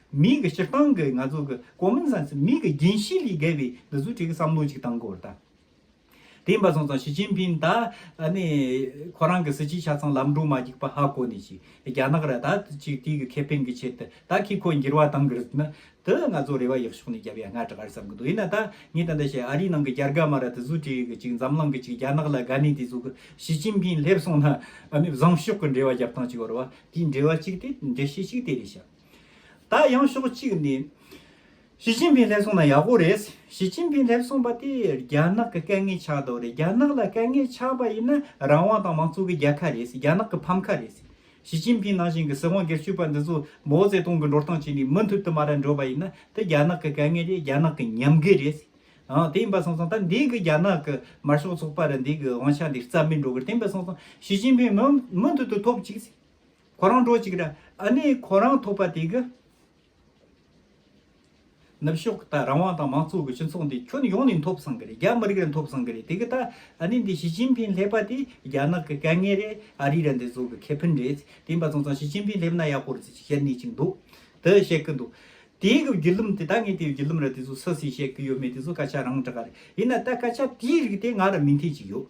མིག་གི་སྤྱིར་བཏང་གི་ང་ཚོ་གི common sense མིག་གི་རྒྱན་ཤེལ་ལས་བརྒལ་བའི་འདི་ཚོ་ཁྲིད་ཀྱི་བསམ་བློ་ཅིག་བཏང་དགོས་དང། དེ་ཡིན་པ་སོང་ཙང་ཞི་ཅིན་ཕིན་ད་ནི་ཁོ་རང་གི་སྲིད་སྤྱི་ཆ་ཚང་ལམ་འགྲོ་མ་བགྱིག་པ་ཧ་གོ་ནས་ཅིག་རྒྱ་ནག་ར་ད་ཅིག་དེའི་གི་ཁེ་ཕན་གི་ཆེད་དུ་ད་ཁིས་ཁོ་འགྱིར་བ་བཏང་གི་རེད་ན་དེ་ང་ཚོ་རེ་བ་ཡག་ཤོག་ནས་རྒྱབ་ཡ་ང་དྲག་བསམ་གི་འདུག་ཡིན་ན་ད་ངས་ད་འདི་བཤད་ཨ་རིའི་ནང་གི་རྒྱ་རྒ་མ་ར་དེ་ཚོ་ཁྲིད་གི་ཅིག་འཛམ་གླིང་གི་ཅིག་རྒྱ་ནག་ལ་དགའ་ནས་དེ་ཚོ་གི་ཞི་ཅིན་ཕིན་སླེབས་སོང་ན་ཨ་ནི་བཟང་ཤོག་གི་འབྲེལ་བ་རྒྱབ་སྟངས་ཅིག་འོར་བ་དེའི་འབྲེལ་བ་ཅིག་དེ་འབྲེལ་བཤད་ཅིག་དེ་རེད་བཤད། ད་ཡང་ཕྱོགས་གཅིག་ནས་ཞི་ཅིན་ཕིང་སླེབས་སོང་ན་ཡག་པོ་རེད། ཞི་ཅིན་ཕིང་སླེབས་སོང་པ་དེ་རྒྱ་ནག་གི་དཀའ་ངལ་ཆགས་འདུག་རེད་རྒྱ་ནག་ལ་དཀའ་ངལ་ཆགས་པ་ཡིན་ན་རང་དབང་དང་མང་གཙོ་གི་རྒྱལ་ཁ་རེད་རྒྱ་ནག་གི་ཕམ་ཁ་རེད། ཞི་ཅིན་ཕིང་ནང་བཞིན་གྱི་སྲིད་དབང་སྒེར་གཅོད་པ་འདི་ཚོ་མའོ་ཙེ་ཏུང་གི་འགྲོ་སྟངས་བྱས་ནས་མུ་མཐུད་དུ་མ་ར་འགྲོ་བ་ཡིན་ན་དེ་རྒྱ་ནག་གི་དཀའ་ངལ་རེད་རྒྱ་ནག་གི་ཉམས་རྒུད་རེད། དེ་ཡིན་པ་སོང་ཙང་ད་འདས་གི་རྒྱ་ནག་གི་དམར་ཤོག་ཚོགས་པ་རུ་འདས་གི་དབང་ཆ་འདི་རྩ་མེད་འགྲོ་གི་རེད་དེ་ཡིན་པ་སོང་ཙང་ཞི་ཅིན་ཕིང་མུ་མཐུད་དུ་ཐོབ་ཅིག། ཁོ་རང་འགྲོ་ཅིག་ར་ཨ་ནི་ཁོ་རང་ཐོབ་པ་དེ་གི། ནུབ་ཕྱོགས་ད་རང་དབང་དང་མང་གཙོ་གི་སྤྱི་ཚོགས་འདི་ཁྱོན་ཡོངས་ནས་འཐོབ་བསམ་གི་རེད་རྒྱ་མི་རིགས་རང་འཐོབ་བསམ་གི་རེད་དེ་གི་ད་ཨ་ནི་འདི་ཞི་ཅིན་ཕིན་སླེབས་པ་དེ་རྒྱ་ནག་གི་དཀའ་ངལ་རེད་ཨ་རི་ར་འདི་བཟོ་གི་ཁེ་ཕན་རེད་དེ་འབའ་ཚང་ཚང་ཞི་ཅིན་ཕིན་སླེབས་ན་ཡག་པོ་རེད་ཅེས་བཤད་ནུས་ཅིག་འདུག་དེ་བཤད་གི་འདུག་དེ་གི་བརྒྱུད་ལུམ་དེ་ད་ངས་དེ་བརྒྱུད་ལུམ་ར་དེ་ཚོ་སུ་སུས་བཤད་གི་ཡོད་མེད་དེ་ཚོ་སྐད་ཆ་རང་འདྲ་ག་རེད་ཡིན་ན་ད་སྐད་ཆ་དེའི་རིགས་དེ་ང་ར་མི་མཐུན་ཅིག་ཡོད།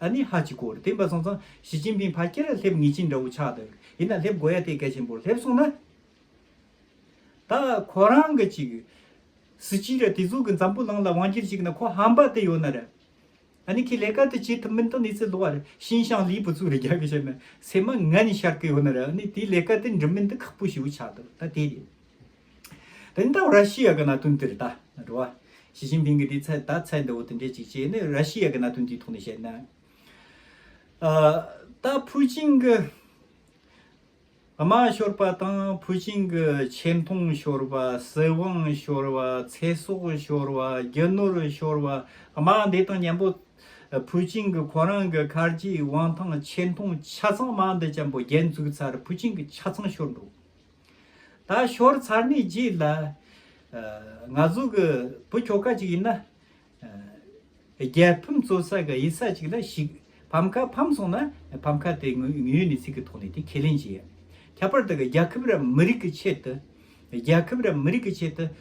ཨ་ནི་ཧ་ཅི་ཀོ་རེད་དེ་འབའ་སོང་ཙང་ཞི་ཅིན་ཕིན་ཕ་སྐྱེ་ར་སླེབས་ངེས་ཅི་འདྲ་བོ་ཆགས་འདུག་ཡིན་ན་སླེབས་དགོས་ཡ་དེ་གལ་ཆེན་པོ་སླེབས་སོང་ན། ད་ཁོ་རང་གི་ཅིག་སི་སྐྱིད་ར་དེ་ཟུག་གི་འཛམ་བུ་གླང་ལ་དབང་སྒྱུར་བྱེད་གི་ན་ཁོ་ཧམ་པ་དེ་ཡོད་ན་རེད། ཨ་ནི་ཁི་ལས་ཀ་དེ་བྱེད་ཐུབ་མིན་ད་ནི་ཚེ་ལོ་བ་རེད་ཤིན་ཤང་ལིའི་བུ་ཚུགས་རེ་རྒྱག་གི་བྱས་ན་སེ་མ་ང་ནི་ཤར་གི་ཡོད་ན་རེད་ཨ་ནི་དེ་ལས་ཀ་དེ་འགྲུབ་མིན་ད་ཁག་པོ་ཞིག་ཡོད་ཆགས་འདུག་ད་དེ་རེད། དེ་ནི་ད་ར་ཤི་ཡ་གི་གནའ་དོན་དེར་ད་རུ་བ། ཞི་ཅིན་ཕིང་གིས་དེའི་ཚད་ད་ཚད་འདི་འོ་དེ་འདྲས་ཅིག་ཅེས་ནི་ར་ཤི་ཡ་གི་གནའ་དོན་དེའི་ཐོག་ནས་བཤད་ན། ད་ཕུའུ་ཅིང་གི་དམག་ཤོར་པ་དང་ཕུའུ་ཅིང་གི་ཆེ་མཐོང་ཤོར་བ་སྲིད་དབང་ཤོར་བ་ཚེ་སྲོག་ཤོར་བ་རྒྱུ་ནོར་ཤོར་བ་དམག་འདི་དང་མཉམ་པོ། ཕུའུ་ཅིང་གི་ཁོ་རང་གི་ཁར་གྱི་དབང་ཐང་ཆེ་མཐོང་ཆ་ཚང་དམག་འདི་ཅན་པོ་རྒྱལ་འཛུགས་ཚར་ཕུའུ་ཅིང་གི་ཆ་ཚང་ཤོར་འགྲོ། ད་ཞོར་ཚར་གནས་རྗེས་ལ། ང་ཟུག་གི་བུ་ཁྱོ་ག་ཅིག་ཡིན་ན། རྒྱལ་ཕམ་བཙོ་ས་གི་ཡི་ས་ཅིག་ལ་ཞིག་ཕམ་ཁ་ཕམ་སོང་ན་ཕམ་ཁ་དེ་ངོས་ངོས་ནས་ཚིག་གི་ཐོག་ནས་དེ་ཁས་ལེན་བྱེད་ཡ། ཁྱད་པར་དུ་རྒྱལ་ཁབ་རམ་མི་རིགས་ཀྱི་ཆེད་དུ། རྒྱལ་ཁབ་རམ་མི་རིགས་ཀྱི་ཆེད་དུ་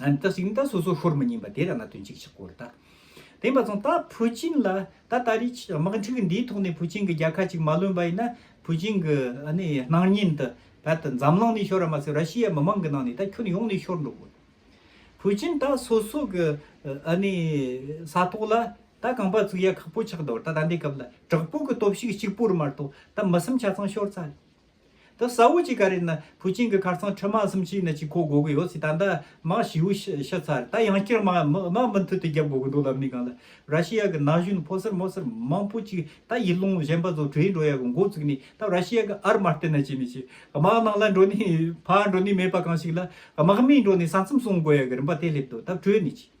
ཨན་ཏི་སིང་ད་སོ་སོ་ཤོར་མི་ཉན་པ་དེ་ར་ང་དོན་གཅིག་ཆགས་སྐོར་ད། དེང་པ་ཚང་ད་ཕུ་ཅིན་ལ་ད་ད་རིས་དམག་འཁྲུག་འདིའི་ཐོག་ནས་ཕུ་ཅིན་གི་རྒྱལ་ཁ་ཅིག་མ་ལོན་པ་ཡིན་ན་ཕུ་ཅིན་གི་ནི་སྣང་བརྙན་ད་བལ་ད་འཛམ་གླིང་ནས་ཤོར་ར་མ་ཟད་ར་ཤི་ཡའི་མི་མང་གི་ནང་ནས་ད་ཁྱོད་ཡོང་ནས་ཤོར་འགྲོ་དགོས། ཕུ་ཅིན་ད་སོ་སོ་གི་ནི་ས་ཐོག་ལ་ད་གང་པ་ཚུགས་ཡ་ཁག་པོ་ཆགས་འདོར་ད་ད་འདའི་སྐབས་ལ་དྲག་པོ་གི་སྟོབས་ཤུགས་གཅིག་པོར་མ་གཏོགས་ད་མི་སེམས་ཆ་ཚང་ཤོར་ཚ་རེད། ད་ས་བོ་གཅིག་ག་རེ་ན་བུ་ཆེན་གི་ཁར་ཚང་ཁྲི་མ་གསུམ་ཅིག་ན་གཅིག་ཁོ་དགོ་གི་ཡོད་ཚེ་ད་ལྟ་མང་བྱིའུ་ཤི་ཤི་ཚར་ད་ཡང་སྐྱེར་མ་མང་མུ་མཐུད་དུ་བརྒྱབ་དགོ་གི་འདུག་ལབ་ནི་གང་ལ་ར་ཤི་ཡ་གི་ན་གཞོན་ཕོ་སེར་མོ་སེར་མང་པོ་ཅིག་ད་ཡིད་ལུང་གཞན་པ་ཚོ་བྲོས་འགྲོ་ཡ་གི་འགོ་བཙུགས་ནི་ད་ར་ཤི་ཡ་གི་ཨར་མ་ལྟེ་ན་ཅི་ནི་ཅི་དམག་ནང་ལ་འགྲོ་ནི་ཕ་འགྲོ་ནི་མེད་པ་གང་ཞིག་ལ་དམག་མི་འགྲོ་ནི་ས་མཚམས་སྲུང་དགོ་ཡ་གི་རིམ་པ་དེ་སླེབས་འདུག་ད་བྲོས་ནི་ཅི།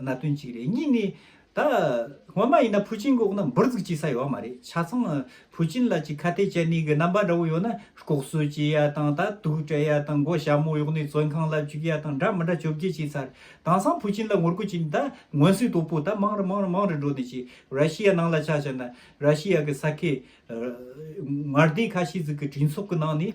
ན་དོན་གཅིག་རེད་གཉིས་ནི། ད་སྔོན་མ་ཡིན་ན་ཕུའུ་ཅིན་གི་འོག་ན་འབུར་ཚུགས་བྱེད་ས་ཡོད་མ་རེད་ཆ་ཚང་ཕུའུ་ཅིན་ལ་ཅིག་ཁ་གཏད་བཅད་ནས་གི་རྣམ་པ་འདྲ་བོ་ཡོད་ན་ལྐོག་གསོད་བྱེད་ཡ་དང་ད་དུག་སྤྲད་ཡ་དང་མགོ་ཞྭ་མོ་གཡོག་ནས་བཙོན་ཁང་ལ་བཅུག་ཡ་དང་འདྲ་མི་འདྲ་བཅོ་བརྒྱད་བྱས་ཚར་དང་སང་ཕུའུ་ཅིན་ལ་ངོ་རྒོལ་བྱས་ནས་ད་སྔོན་སུའི་དོ་པོ་ད་མང་རུ་མང་རུ་མང་རུ་འགྲོ་ནས་ཅིག་ར་ཤི་ཡ་ནང་ལ་ཆ་བྱས་ན་ར་ཤི་ཡ་གི་ས་ཁེ་ངར་སྡེ་ཁ་ཤས་ཟིག་གི་གྲོས་ཚོགས་གི་ནང་ནས་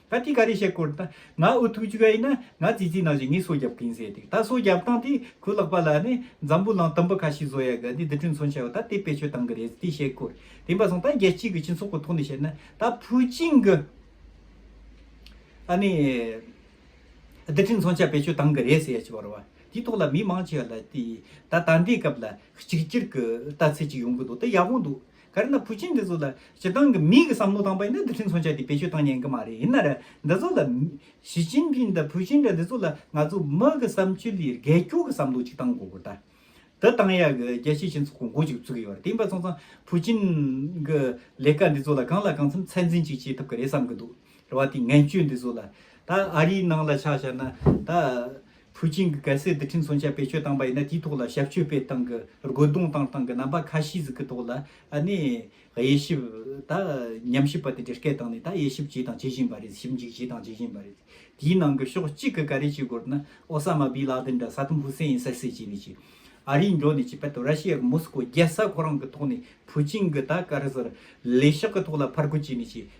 ད་ཅི་ག་རེ་བཤད་སྐོར་ད་ང་ཨུ་ཐུག་ཅིག་ཨེ་ན་ང་ཙི་ཙི་ནང་བཞིན་ངས་སོ་རྒྱབ་གིན་ཟེར་ཏེ་ད་སོ་རྒྱབ་སྟངས་དེ་ཁོས་ལག་པ་ལ་ནི་འཛམ་བུ་གླང་དུམ་བུ་ཁ་ཤས་བཟོ་ཡ་གི་འདི་འདི་གྲོན་ཚོང་བྱ་བ་ད་དེ་བེད་སྤྱོད་གཏང་གི་རེད་ཟེར་ཏེ་བཤད་སྐོར་དེ་འབའ་སོང་ད་རྒྱལ་སྤྱི་གི་སྤྱི་ཚོགས་ཀྱི་ཐོག་ནས་བཤད་ན་ད་ཕུའུ་ཅིང་གི་ཨ་ནི་འདི་གྲོན་ཚོང་བྱ་བེད་སྤྱོད་གཏང་གི་རེད་ཟེར་ཡ་ཅི་བར་བ་དེའི་ཐོག་ལ་མི་མང་ཆེ་བ་ལ་དེ་ད་ད་འདའི་སྐབས་ལ་གཅིག་གྱུར་གི་ལྟ་ཚུལ་ཅིག་ཡོང་གི་འདུག་ད་ཡག་པོ་འདུག་དཀར་ནག་ཕུ་ཆེན་འདི་ཚོ་ལ་སྤྱིར་བཏང་གི་མིའི་གི་བསམ་བློ་དང་པོ་ཡིན་ན་འདི་འཕྲིན་མཚོན་ཆ་དེ་བེད་སྤྱོད་གཏང་ཉན་གི་མ་རེད་ཡིན་ན་རེ་འདི་ཚོ་ལ་ཞི་ཅིན་ཕིན་དང་ཕུ་ཆེན་འདྲ་འདི་ཚོ་ལ་ང་ཚོ་མི་གི་བསམ་སྤྱོད་ལས་རྒལ་སྐྱོ་གི་བསམ་བློ་གཅིག་གཏང་དགོས་གོ་ད་འདི་གཏང་ཡག་གི་རྒྱལ་སྤྱི་ཆེན་ཚོ་གོ་འགོ་ཅིག་བཙུག་ཡོད་རེད་དེ་ཡིན་པ་སོང་ཙང་ཕུ་ཆེན་གི་ལས་ཀ་འདི་ཚོ་ལ་གང་ལ་གང་འཚམས་ཚད་འཛིན་ཅིག་བྱེད་ཐུབ་གི་རེད་བསམ་གི་འདུག་རེ་བ་དེ་ངན་སྤྱོད་འདི་ཚོ་ལ་ད་ཨ་རིའི་ནང་ལ་ཆ་བཤར་ན་ད་ཕུའུ་ཅིང་གིས་གལ་སྲིད་རྡུལ་ཕྲན་མཚོན་ཆ་བེད་སྤྱོད་བཏང་པ་ཡིན་ན་དེའི་ཐོག་ལ་ཞབས་ཞུ་བེད་སྟངས་ཀྱི་རྒོལ་རྡུང་བཏང་སྟངས་ཀྱི་རྣམ་པ་ཁ་ཤས་ཟིག་གི་ཐོག་ལ་ནས་དབྱེ་ཞིབ་ད་ཉམས་ཞིབ་པ་དེ་འདྲས་སྐད་བཏང་ནས་ད་དབྱེ་ཞིབ་བྱས་དང་བྱེད་བཞིན་པ་རེད་ཞིབ་འཇུག་བྱས་དང་བྱེད་བཞིན་པ་རེད། དེའི་ནང་གི་ཕྱོགས་གཅིག་གི་ག་རེ་བྱེད་དགོས་ན་ཨོ་ས་མ་བྷི་ལ་དེན་དང་ས་ཏུམ་བྷུ་སེན་ཡིན་ས་སེ་བྱས་ནས་བྱས། ཨ་རིའི་འགྲོ་ནས་བྱས་པ་དང་ར་ཤི་ཡ་གི་མོ་སི་ཀོ་རྒྱལ་ས་ཁོ་རང་གི་ཐོག་ནས་ཕུའུ་ཅིང་གི་ད་ག་རེ་ཟེར་ལས་ཤག་གི་ཐོག་ལ་ཕར་རྒོལ་བྱས་ནས་བྱས།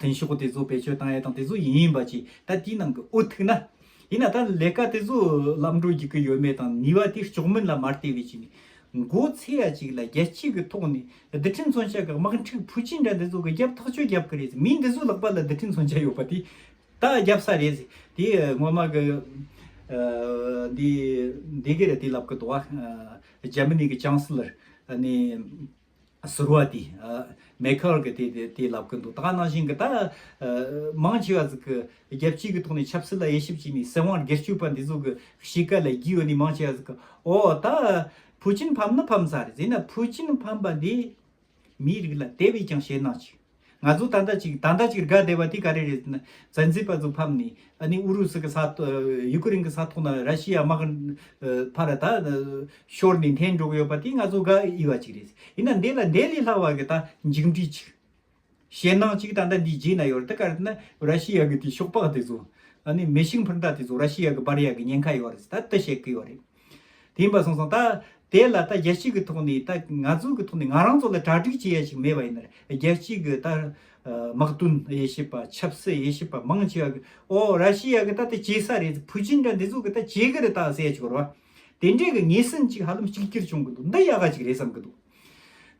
དོན་ཞུ་སྒོ་དེ་ཚོ་བེད་སྤྱོད་བཏང་ཡས་དང་དེ་ཚོ་ཡིན་ཡིན་པ་གྱིས་ད་དེའི་ནང་གི་འུ་ཐུག་ན། ཡིན་ན་ད་ལས་ཀ་དེ་ཚོ་ལམ་འགྲོ་རྒྱུག་གི་ཡོད་མེད་དང་ནུས་བ་དེ་ལྕོགས་མིན་ལ་མ་ལྟོས་བའི་ཆེད་ནས། མགོ་ཚེ་ཡ་ཅིག་ལ་རྒྱལ་སྤྱི་གི་ཐོག་ནས་རྡི་ཁྲི་མཚོན་ཆ་གི་དམག་འཁྲུག་ཕུ་ཅིན་འདྲ་འདི་ཚོ་གི་རྒྱབ་ཐག་གཅོད་རྒྱབ་གི་རེད་ཟེ་མི་འདི་ཚོ་ལག་པ་ལ་རྡི་ཁྲི་མཚོན་ཆ་ཡོད་པ་དེ་ད་རྒྱབ་ས་རེད་ཟེ་དེ་ངོ་མ་གི་འདི་འདི་གི་རེད་དེ་ལབ་གི་འདུག་བ་རྒྱ་མི་ནི་གི་ཅང་སི་ལར་ནི། ཟུར་བ་དེ་མེ་ཁར་གི་དེ་དེ་ལབ་གི་འདུག་ད་ནང་བཞིན་གི་ད་མང་ཆེ་བ་ཟིག་གི་རྒྱལ་སྤྱིའི་གི་ཐོག་ནས་ཆབ་སྲིད་ལ་དབྱེ་ཞིབ་བྱས་ནས་སྲིད་དབང་སྒེར་སྤྱོད་པ་འདི་ཚོ་གི་གཤིས་ཀ་ལ་བསྒྱིས་ཡོད་ནས་མང་ཆེ་བ་ཟིག་གི་ཨོ་ད་ཕུའུ་ཅིན་ཕམ་ན་ཕམ་ས་རེད་ཟེར་ན་ཕུའུ་ཅིན་ཕམ་པ་འདི་མིའི་རིགས་ལ་དེ་བས་ཀྱང་ཞེད་སྣང་ཅིག། ང་ཚོ་ད་ལྟ་ཅིག་ད་ལྟ་ཅིག་དགའ་བདེ་བ་དེ་ག་རེ་རེད་ཟེར་ན་བཙན་འཛུལ་པ་ཚོ་ཕམ་ནས་ཨ་ནི་ཨུ་རུ་སུ་གི་ས་ཡུ་ཀེ་རེན་གི་ས་ཐོག་ན་ར་ཤི་ཡའི་དམག་གི་ཕར་ད་ཤོར་ནས་འཐེན་འགྲོ་གི་ཡོད་པ་དེ་ང་ཚོ་དགའ་འོས་བ་ཅིག་རེད། ཡིན་ན་འདི་ལ་འདི་ལས་ལྷག་བ་གི་ད་མཇུག་འབྲས་ཅིག་ཞེད་སྣང་ཅིག་ད་ལྟ་འདིའི་རྗེས་ན་ཡོད་རེད་ད་ག་རེ་ན་ར་ཤི་ཡ་གི་དེ་ཤོག་སྦག་དེ་ཚོ་ཨ་ནི་མེ་ཤིང་འཕུར་མདའ་དེ་ཚོ་ར་ཤི་ཡ་གི་སྦར་ཡ་གི་ཉེན་ཁ་ཡོད་རེད་ད་ལྟ་བཤད་ཀི་ཡོད་རེད། དེ་ཡིན་པར་གསུངས་སོང། ད་དེ་ལ་ད་རྒྱལ་སྤྱི་གི་ཐོག་ནས་ད་ང་ཚོ་གི་ཐོག་ནས་ང་རང་ཚོ་ལ་གྲ་སྒྲིག་བྱེད་ཡ་ཞིག་མེད་པ་ཡིན་ན་རེ་རྒྱལ་སྤྱི་གི་ད་དམག་དོན་དབྱེ་ཞིབ་པ་ཆབ་སྲིད་དབྱེ་ཞིབ་པ་མང་ཆེ་བ་གི་ཨོ་ར་ཤི་ཡ་གི་ད་དེ་བྱེད་ས་རེད་ཕུ་ཅིན་འདྲ་འདི་ཚོ་གི་ད་བྱེད་གི་རེད་ད་ཟེར་ཡ་ཞིག་རེད་བ། དེ་འདྲའི་གི་ངེས་ཟིན་ཅིག་ཧ་ལམ་གཅིག་གྱུར་བྱུང་གི་འདུག་འདི་ཡག་ག་ཅིག་རེད་བསམ་གི་འདུག་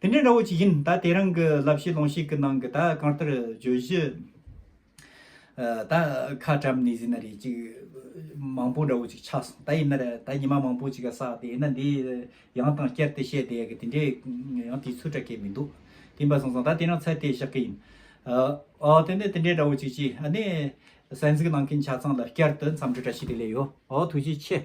དེ་འདྲའི་འདྲ་བོ་ཅིག་ཡིན་ད་དེ་རང་གི་ལབ་བཤད་ལོང་བཤད་གི་ནང་གི་ད་གང་ལྟར་བརྗོད་གཞི། ད་ཁ་བཀྲམ་ནས་ཟིན་ན་རེད་ཅིག་མང་པོ་འདྲ་བོ་ཅིག་ཆགས་སོང་ད་ཡིན་ན་རེད་ད་ཉི་མ་མང་པོ་ཅིག་ག་བསགས་ཏེ་ཡིན་ན་འདི་ཡང་དང་བསྐྱར་དེ་བཤད་དེ་གི་དེ་འདྲའི་ཡང་དེའི་ཚུལ་སྐྲག་གི་མི་འདུག་དེ་འབའ་སོང་སོང་ད་དེ་རང་ཚད་དེ་བཞག་གི་ཡིན། ཨོ་དེ་འདྲ་དེ་འདྲའི་འདྲ་བོ་ཅིག་ཅིག་ཨ་ནི་གསན་གཟིགས་གནང་མཁན་ཆ་ཚང་ལ་བསྐྱར་དུ་འཚམས་འདྲི་བཀྲ་ཤིས་བདེ་ལེགས་ཡོད་ཨོ་ཐུགས་རྗེ་ཆེ།